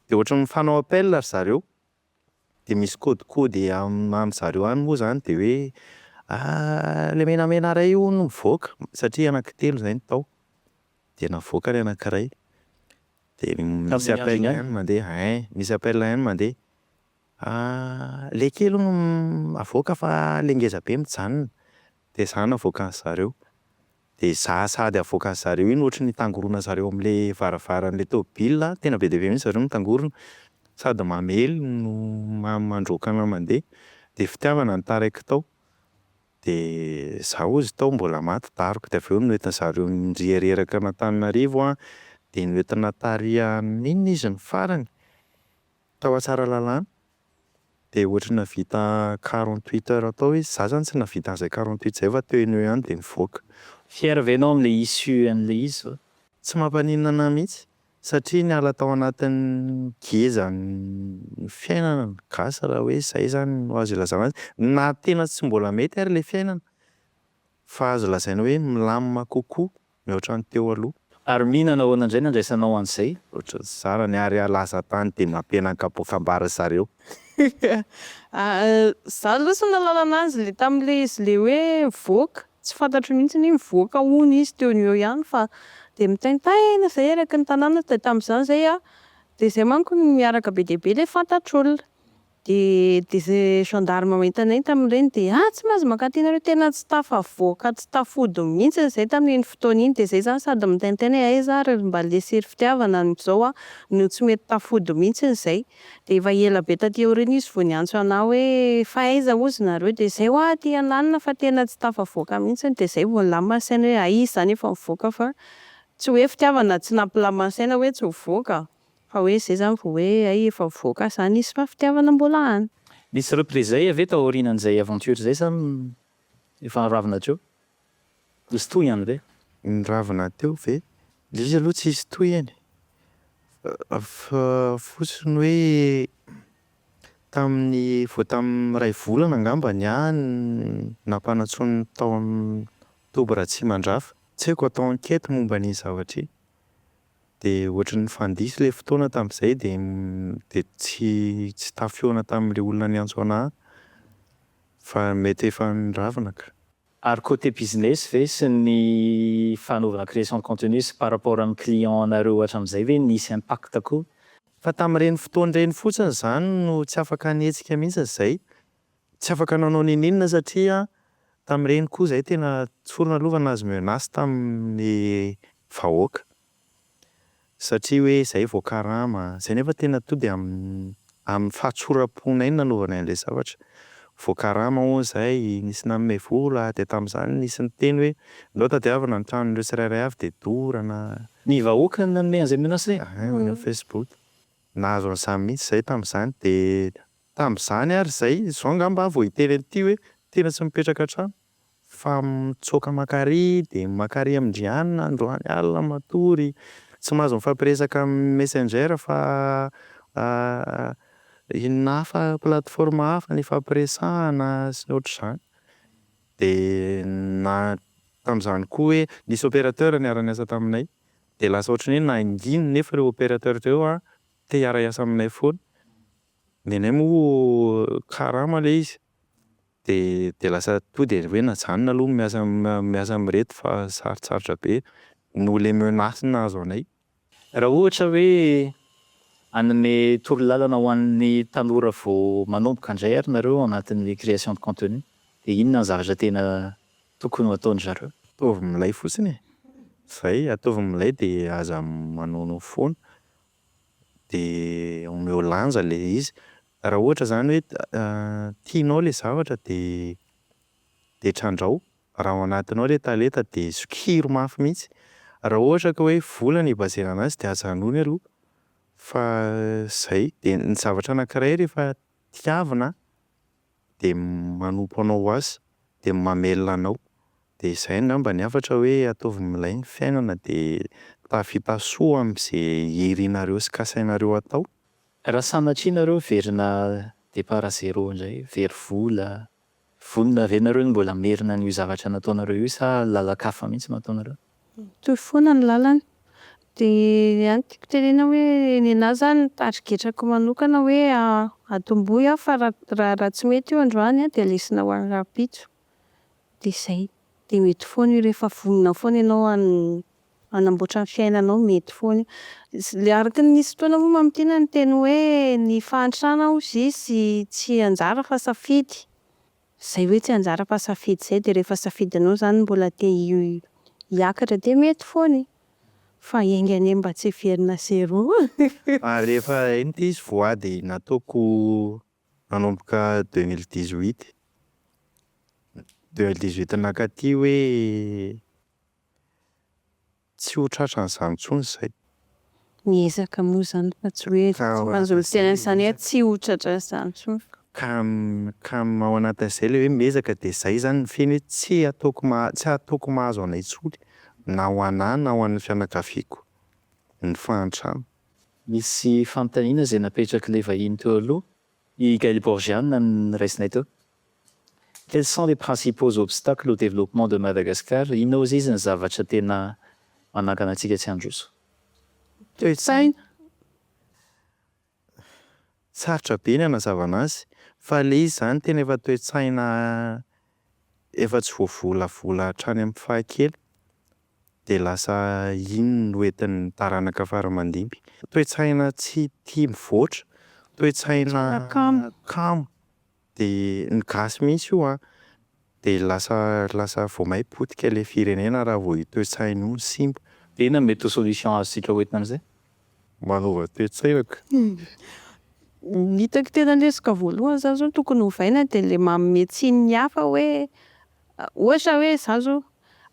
Dia ohatry ny mifanao appel ry zareo. Dia misy codecode am- any zareo any moa izany dia hoe ilay menamena iray io hono mivoaka satria anankitelo izay no tao. Dia navoaka ny anankiray. Dia misy appel ihany no mandeha. Ein! Misy appel ihany no mandeha. Ahh le kely hono avoaka fa le ngeza be mijanona de za no avoaka an'i zareo de za sady avoaka an'i zareo iny ohatry ny hitangorona zareo amle varavaran'le tôbila an, tena be dia be mihintsy zareo mitangorona sady mamely no mandroaka anah mandeha de fitiavana no taraiky tao de za ozy tao mbola maty daroka de avy eo noentin'i zareo niriha reraka an'Antananarivo an de noentina tary amin'inona izy ny farany? Tao Tsaralalàna dia ohatry ny nahavita quarante huit heures tao izy, za zany tsy nahavita an'izay quarante huit zay fa teo enoho eo ihany dia nivoaka. Fier ve ianao amin'ilay issue an'ilay izy zao? Tsy mampaninona anah mihitsy satria niala tao anatin'ny ngezan'ny fiainana ny gasy raha hoe izay izany no azo ilazana azy, na tena tsy mbola mety ary ilay fiainana fa azo lazaina hoe milamina kokoa mihoatra ny teo aloha. Ary Mihina nahoana indray no andraisanao an'izay? Ohatran'ny tsy zanany ary alaza tany dia nampiana an-kapoaka ambara zareo. Ahh za aloha tsy nahalala anazy le tamle izy le hoe mivoaka, tsy fantatro mihitsy ny hoe mivoaka hono izy teo no eo ihany fa de mitaintaina zay eraky ny tanàna de tamzany zay ah de zay manko no miaraka be dia be le fantatr'olona Dia dia izay gendarme manetanenta amin'ireny dia ah tsy mahazo mankaty nareo tena tsy tafavoaka tsy tafody mihintsiny izay tamin'iny fotoana iny dia izay izany sady mitaintaina hoe aiza ary ry mba lesy ry fitiavana amin'izao aho no tsy mety tafody mihintsiny izay dia efa ela be taty aoriana izy vao niantso anah hoe fa aiza ozy nareo dia izay hoa aty an'alina fa tena tsy tafavoaka mihintsiny dia izay vao nilamina ny saina hoe aiza izany efa mivoaka fa tsy hoe fitiavana tsy nampilamina saina hoe tsy mivoaka. Fa hoe zay zany vao hoe hay efa mivoaka zany izy fa fitiavana mbola any. Nisy reprise zay ve tao aorianan'izay aventure zay sa efa niravina teo? Nisy tohiny any ve? Niravina teo ve? Ilay izy aloha tsisy tohiny fa fotsiny hoe tamin'ny vao tamin'ny iray volana angamba ny ahy nampanantsoiny tao amin'ny toby Ratsimandrava, tsy haiko atao enquête momba an'iny zavatra iny. Dia ohatry ny nifandiso ilay fotoana tamin'izay dia dia tsy tsy tafihaona tamin'ilay olona niantso anah fa mety efa niravina ka. Ary côté business ve sy ny fanaovana création de contenu sy par rapport amin'ny client nareo hatramin'izay ve nisy impact koa? Fa tamin'ireny fotoana ireny fotsiny izany no tsy afaka nihetsika mihitsy izay Tsy afaka nanao n'inon'inona satria tamin'ireny koa izahay tena tsorina aloha fa nahazo menace tamin'ny vahoaka satria hoe izahay vao karama, izay nefa tena tonga dia amin'ny fahatsoram-ponay no nanaovanay an'ilay zavatra, vao karama hono izahay, nisy nanome vola, dia tamin'izany nisy niteny hoe ndao tadiavina ny tranon'ireo tsirairay avy dia dorana. Ny vahoaka no nanome an'izay menace izay? Any amin'ny Facebook, nahazo an'izany mihitsy izahay tamin'izany dia Tamin'izany ary izay, izao angamba aho vao hiteny an'ity hoe tena tsy mipetraka an-trano fa mitsoaka maka àry dia maka àry amin-dry anona androany alina matory, tsy mahazo mifampiresaka amin'ny Messenger fa inona hafa, plateforme hafa ny ifampiresahana sy ny ohatr'izany. Dia na tamin'izany koa hoe nisy opérateur niara-niasa taminay dia lasa ohatran'ny hoe nangina nefa ireo opérateur ireo te hiara-hiasa aminay foana. Ny anay moa karama ilay izy dia dia lasa tonga dia hoe najanona aloha ny miasa miasa amin'ireto fa sarotsarotra be noho ilay menace nahazo anay. Raha ohatra hoe hanome torolalana ho an'ny tanora vao manomboka indray ary nareo ao anatin'ny création de contenu dia inona ny zavatra tena tokony ho ataon'ny zareo? Ataovy milay fotsiny e! Izay, ataovy milay dia aza manono foana. dia omeo lanja ilay izy. Raha ohatra izany hoe tianao ilay zavatra dia dia trandraho, raha ao anatinao ilay talenta dia sokiro mafy mihitsy. Raha ohatra ka hoe vola no hi-baser-na an'azy dia ajanony aloha fa izay. Dia ny zavatra anankiray rehefa tiavina dia manompo anao ho azy, dia mamelona anao. Dia izay angamba ny hafatra hoe ataovy milay ny fiainana dia tafita soa amin'izay irinareo sy kasainareo atao. Raha sanatria nareo miverina départ à zéro indray, very vola, vonona ve nareo ny mbola hamerina an'io zavatra nataonareo io sa lalan-kafa mihitsy no ataonareo? Mitohy foana ny lalana. Dia ny ahy ny tiako tenena hoe ny ahy izany tarigetrako manokana hoe atombohy aho fa raha raha tsy mety io androany dia lesona ho an'ny rahampitso. dia zay, dia mety foana io rehefa vonona foana ianao hanamboatra ny fiainanao mety foana io, araka ny misy fotoana moa mamintina ny teny hoe ny fahantrana hozy izy tsy anjara fa safidy, zay hoe tsy anjara fa safidy zay dia rehefa safidinao zany mbola te hiakatra dia mety foana e! fa enga anie mba tsy hiverina zero. Ary rehefa iny ilay izy voady nataoko Nanomboka deux mille dix huit, deux mille dix huit nakaty hoe tsy ho tratran'izany intsony izay. Miezaka moa izany fa tsy hoe tsy mahazo miteny an'izany hoe tsy ho tratran'izany intsony fa. Ka ka ao anatin'izay ilay hoe miezaka dia izay izany ny fehiny hoe tsy ataoko maha- tsy ataoko mahazo anay intsony na ho an'ahy na ho an'ny fianakaviako ny fahantrana. Nisy fanontaniana izay napetrak'ilay vahiny teo aloha, i Gail Borgia no niraisinay teo. Quels sont les principaux obstacles au développement de Madagascar? Inona ozy izy ny zavatra tena manakana antsika tsy handroso? Toe-tsaina? Sarotra be ny hanazavana azy fa ilay izy izany tena efa toe-tsaina efa tsy voavolavola hatrany amin'ny fahakely. dia lasa iny no entin'ny taranaka faramandimby. Toe-tsaina tsy tia mivoatra, toe-tsaina kamo, dia ny gasy mihitsy io an! dia lasa lasa vao may potika ilay firenena raha vao io toe-tsaina io no simba. Dia inona no mety ho solution azontsika ho entina amin'izay? Manova toe-tsaina ka! Ny hitako tena lesoka voalohany izany izao no tokony ovaina dia ilay manome tsiny ny hafa hoe Ohatra hoe izaho izao,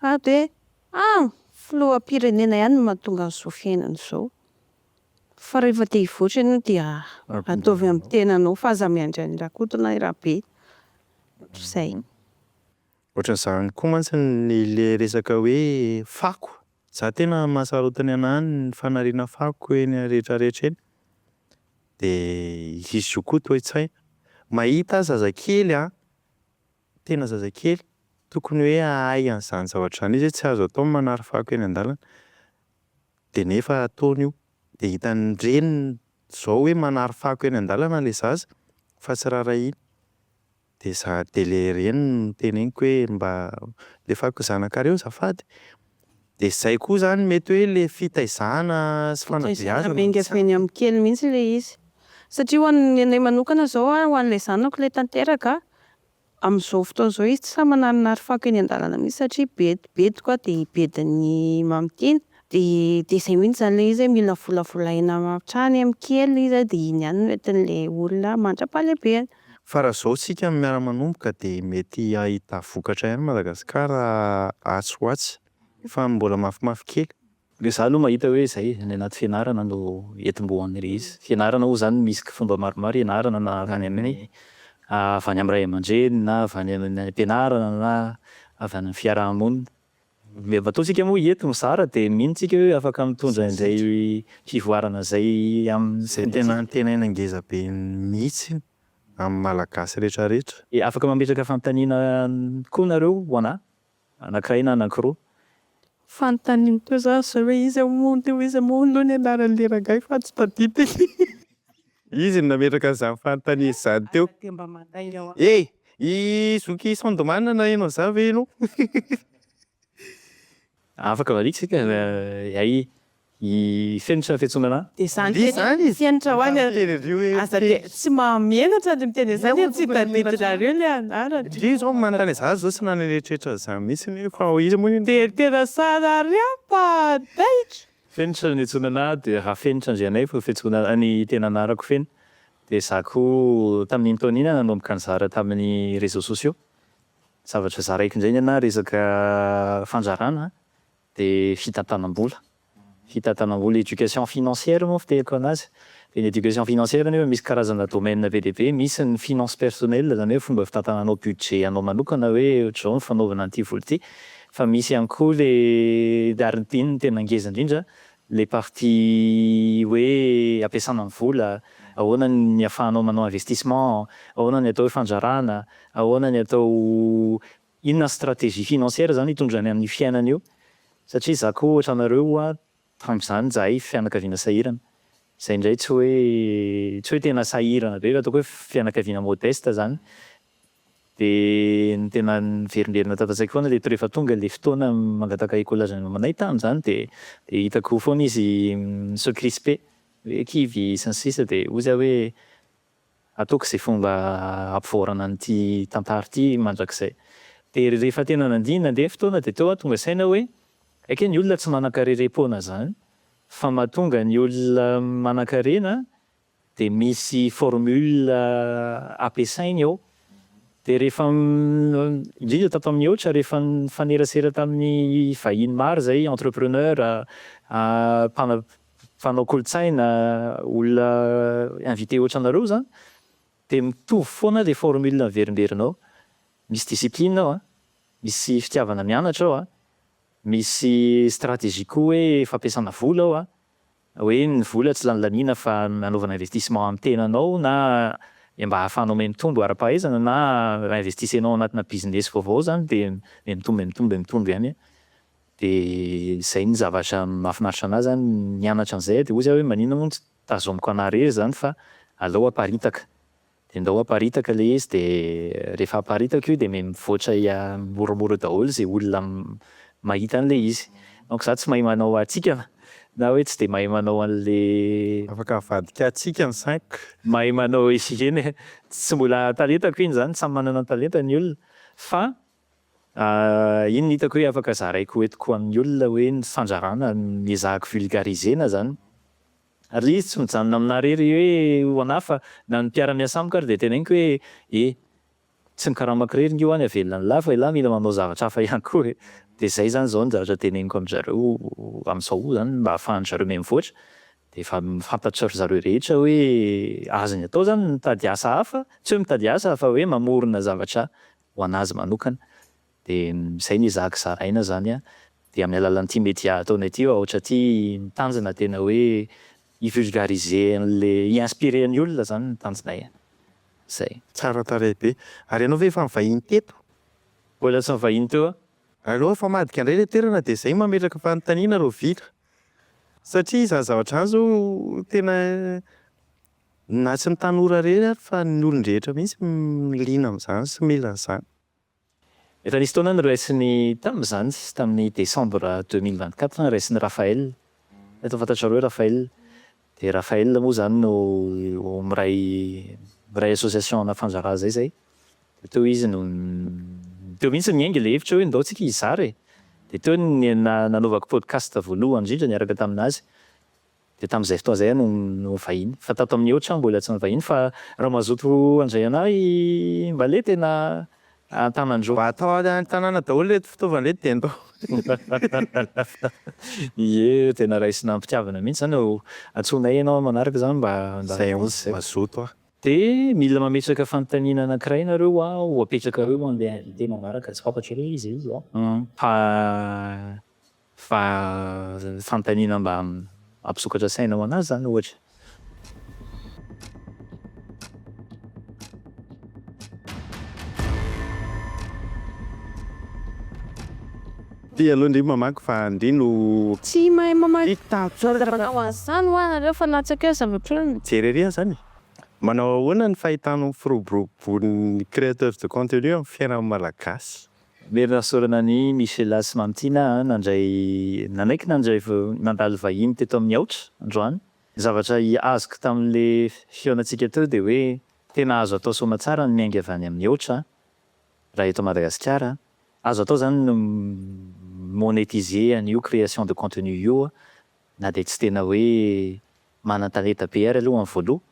ah dia ah filoham-pirenena ihany no mahatonga an'izao fiainana izao. Fa rehefa te hivoatra ianao dia ataovy amin'ny tenanao fa aza miandry an'i Rakoto na i Rabe. Izay. Ohatran'izany koa mantsy ilay resaka hoe fako. Izaho tena mahasarotiny anah ny fanariana fako eny rehetrarehetra eny. Dia hisy zokiolona toa tsy hay. Mahita aza zazakely an, Tena zazakely tokony hoe hahay an'izany zavatra izany izy hoe tsy azo atao ny manary fako eny an-dalana. Dia nefa ataony io. Dia hitan'ny reniny izao hoe manary fako eny an-dalana ilay zaza fa tsy raharahiany. Dia za, dia ilay reniny no noteneniko hoe mba alefaso ny zanakareo azafady. Dia zay koa zany mety hoe le fitaizana sy fanabeazana no tsy ampy. Eny amin'ny kely mihitsy ilay izy. Satria ho an'ny anay manokana izao an, ho an'ilay zanako ilay tanteraka an, amin'izao fotoana izao izy tsy sahy manarinary fako eny an-dalana mihitsy satria be bediko an, dia bedin'ny Mamy Tina, dia dia izay mihitsy izany ilay izy hoe mila volavolaina hatrany amin'ny kely izy an, dia iny ihany no entin'ilay olona mandra-pahalehibeny. Fa raha zao tsika no miara manomboka de mety ahita vokatra ihany Madagascar atsy ho atsy fa mbola mafimafy kely. Dia za aloha mahita hoe izay any anaty fianarana no entim-boan' le izy. Fianarana oa zany misy fomba maromaro ianarana na avy any amin'ny avy any amin'ny ray aman-dreny na avy any amin'ny any am-pianarana na avy any amin'ny fiaraha-monina. Ilay bateau tsika moa eto mizara dia mino tsika hoe afaka mitondra izay fivoarana izay amin'ny Izay tena fotoana. antenaina ngeza be mihitsy amin'ny Malagasy rehetra rehetra. Dia afaka mametraka fanontaniana koa nareo ho anah, anankiray na anankiroa. Fanontaniana koa za zao hoe iza moa aloha iza moa aloha ny anaran'ilay rangahy fa tsy tadidiko. Izy no nametraka an'izany fanontaniana izany teo. Eh! I zoky Sandman naheno an'izany ve ianao? Afaka variana isika fa i i fenitra no fiantsoana anà. Dia izany fenitra izy fenitra ho any ary aza dia tsy mahamenatra ny miteny an'izany e, tsy tadidinareo ilay anarany. Ndry izao ny manontany an'izany izao tsy nanetretra an'izany mihitsy aho fa hoy izy moa iny. Dia tena tsara ary aho fa taitra. Fenitra ny antsoina anah dia raha Fenitra Andrianaivo fiantsoana anah ny tena anarako feno dia za koa tamin'iny taona iny aho nanomboka nizara tamin'ny réseaux sociaux zavatra zaraiko indray ny anah resaka fanzarana dia fitantanam-bola, fitantanam-bola, éducation financière moa fiteriko anazy Ny éducation financière anefa misy karazana domaine be dia be, misy ny finance personnelle izany hoe fomba fitantananao budget anao manokana hoe ohatr'izao ny fanaovana an'ity vola ity, fa misy ihany koa ilay ary iny no tena ngeza indrindra ilay partie hoe ampiasana ny vola, ahoana ny ahafahanao manao investissement, ahoana ny atao hoe fandrarana, ahoana ny atao inona ny stratégie financière izany hitondrany amin'ny fiainana io satria za koa ohatranareo Tamin'izany izahay fianakaviana sahirana, izay indray tsy hoe tsy hoe tena sahirana be fa ataoko hoe fianakaviana modeste izany, dia ny tena niverimberina tao an-tsaiko foana ireto rehefa tonga ilay fotoana mangataka école à jeunes aminay tamin'izany dia dia hitako foana izy mi se crisper hoe kivy sy ny sisa dia hoy za hoe Ataoko izay fomba hampivoarana an'ity tantara ity mandrakizay. Dia rehefa tena nandihy nandeha fotoana dia teo aho tonga saina hoe, ekey ny olona tsy manankarerem-poana izany fa mahatonga ny olona manankarena dia misy formule ampiasainy ao. Dia rehefa indrindra tato amin'ny Eocha rehefa nifanerasera tamin'ny vahiny maro izay, entrepreneurs, mpanao kolontsaina, olona invité otranareo zany de mitovy foana le formule averimberinao, misy discipline ao a, misy fitiavana mianatra ao a, misy stratégie koa hoe fampiasana vola ao a, hoe ny vola tsy lany laniana fa anaovana investissement amin'ny tenanao na mba ahafahanao mihamitombo ara-pahaizana na raha investisenao anatina business vaovao zany de mihamitombo mihamitombo mihamitombo ihany Dia izay ny zavatra mahafinaritra anah zany mianatra an'izay dia hoy zah hoe maninona moa no tsy tazomiko anah irery zany fa aleo aparitaka. Dia ndao aparitaka ilay izy dia rehefa aparitaka io dia mivoatra moramora daholo izay olona mahita an'ilay izy. Donc zah tsy mahay manao hatsikana na hoe tsy dia mahay manao an'ilay. Afaka mivadika hatsikana cinq. Mahay manao iny, tsy mbola talentako iny zany, samy manana ny talentany ny olona fa Iny no hitako hoe afaka zaraiko ho entiko ho an'ny olona hoe ny fandrarana no ezahako vulgariser-na izany. Ary ilay izy tsy mijanona aminà irery hoe ho anà fa na ny mpiara-miasa amiko ary dia teneniniko hoe e, tsy ny karamako irery ange hoany havelona an'lah fa ialahy mila manao zavatra hafa ihany koa e. Dia izay izany izao ny zavatra teneniko amin-drizareo amin'izao izany mba ahafahan-drizareo mihamivoatra. Dia efa fantatry ry zareo rehetra hoe azony atao izany ny mitady asa hafa, tsy hoe mitady asa fa hoe mamorona zavatra ho an'azy manokana dia izay ny zaka zaraina izany an, dia amin'ny alalan'ity media ataonay ity ohatra ity mitandrina tena hoe hi vulgariser an'ilay hi inspirer ny olona izany ny tanjonay an, izay. Tsara tarehy be. Ary ianao ve efa nivahiny teto? Mbola tsy nivahiny teo aho. Aleo efa madika indray ilay toerana dia izay mametraka fanontaniana raha vita. Satria izany zavatra izany izao tena Na tsy ny tanora irery ary fa ny olon-drehetra mihitsy liana amin'izany sy mila an'izany. Efa nisy taona noraisin'ny, tamin'izany sisa tamin'ny décembre deux mille vingt quatre, noraisin'i Raphaël, mety ho fantatrareo i Raphaël, dia Raphaël moa izany no miray miray association ana Fanjaraha izay izay, dia teo izy no teo mihitsy niainga ilay hevitra hoe ndao tsika hizara e! dia teo no na- nanaovako podcast voalohany indrindra niaraka tamin'azy, Dia tamin'izay fotoana izay aho no nivahiny. Fa tato amin'ny Eocha aho mbola tsy nivahiny fa raha mazoto handray anah i Mbale dia na an-tanandreo. Mba atao any an-tanàna daholo ireto fitaovana ireto dia ndao. Ie, tena raisina am-pitiavana mihitsy izany ô. Antsoinay ianao manaraka izany mba handalo aminay. Izay vao mazoto aho. Dia mila mametraka fanontaniana anankiray nareo aho ho apetrakareo ho an'ilay invité manaraka. Tsy fantatrareo ve izay izy an? Fa Fa ny fanontaniana mba hampisokatra saina ho an'azy izany ohatra. Ty aloha ndry mamaky fa ndry no. Tsy mahay mamaky zava-manao an'izany hoa nareo fa latsaka eo zavatra eo. Jery ery aho zany e! Manao ahoana ny fahitanao ny firoborobon'ny créateur de contenu amin'ny fiainan'ny Malagasy? Very nahasorana an'i Michela sy Mamtina nandray nanaiky nandray nandalo vahiny teto amin'ny Aotra androany. Ny zavatra azoko tamin'ilay fihaonantsika teo dia hoe tena azo atao soamatsara ny miainga avy any amin'ny Aotra raha eto Madagasikara. Azo atao izany ny mi-monetiser an'io création de contenu io na dia tsy tena hoe manan-talenta be ary aloha amin'ny voaloha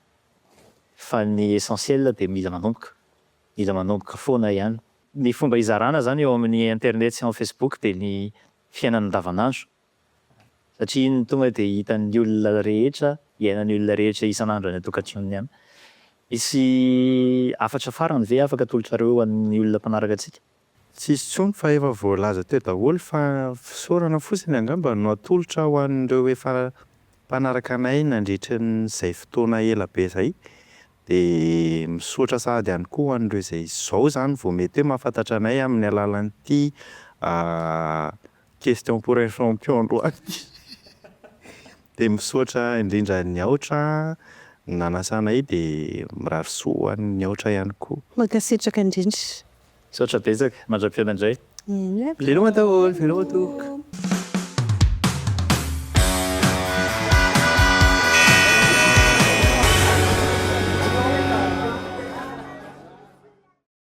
fa ny essentiel dia mila manomboka. Mila manomboka foana ihany. Ny fomba hizarana izany eo amin'ny internet sy ao amin'ny facebook dia ny fiainana andavanandro satria iny no tonga dia hitan'ny olona rehetra, iainan'ny olona rehetra isan'andro any an-tokantranony any. Misy hafatra farany ve afaka atolotrareo ho an'ny olona mpanaraka antsika? Tsisy tsony fa efa voalaza teo daholo fa fisaorana fotsiny angamba no atolotra ho an'ireo efa mpanaraka anay nandritry ny izay fotoana ela be izay dia misaotra sahady ihany koa ho an'ireo izay izao izany vao mety hoe mahafantatra anay amin'ny alalan'ity Question pour un champion loha Dia misaotra indrindra an'i Aotra nanasa anay dia mirary soa ho an'i Aotra ihany koa. Mankasitraka indrindra. Misaotra betsaka, mandra-pihaona indray. Veloma daholo, veloma tompoko.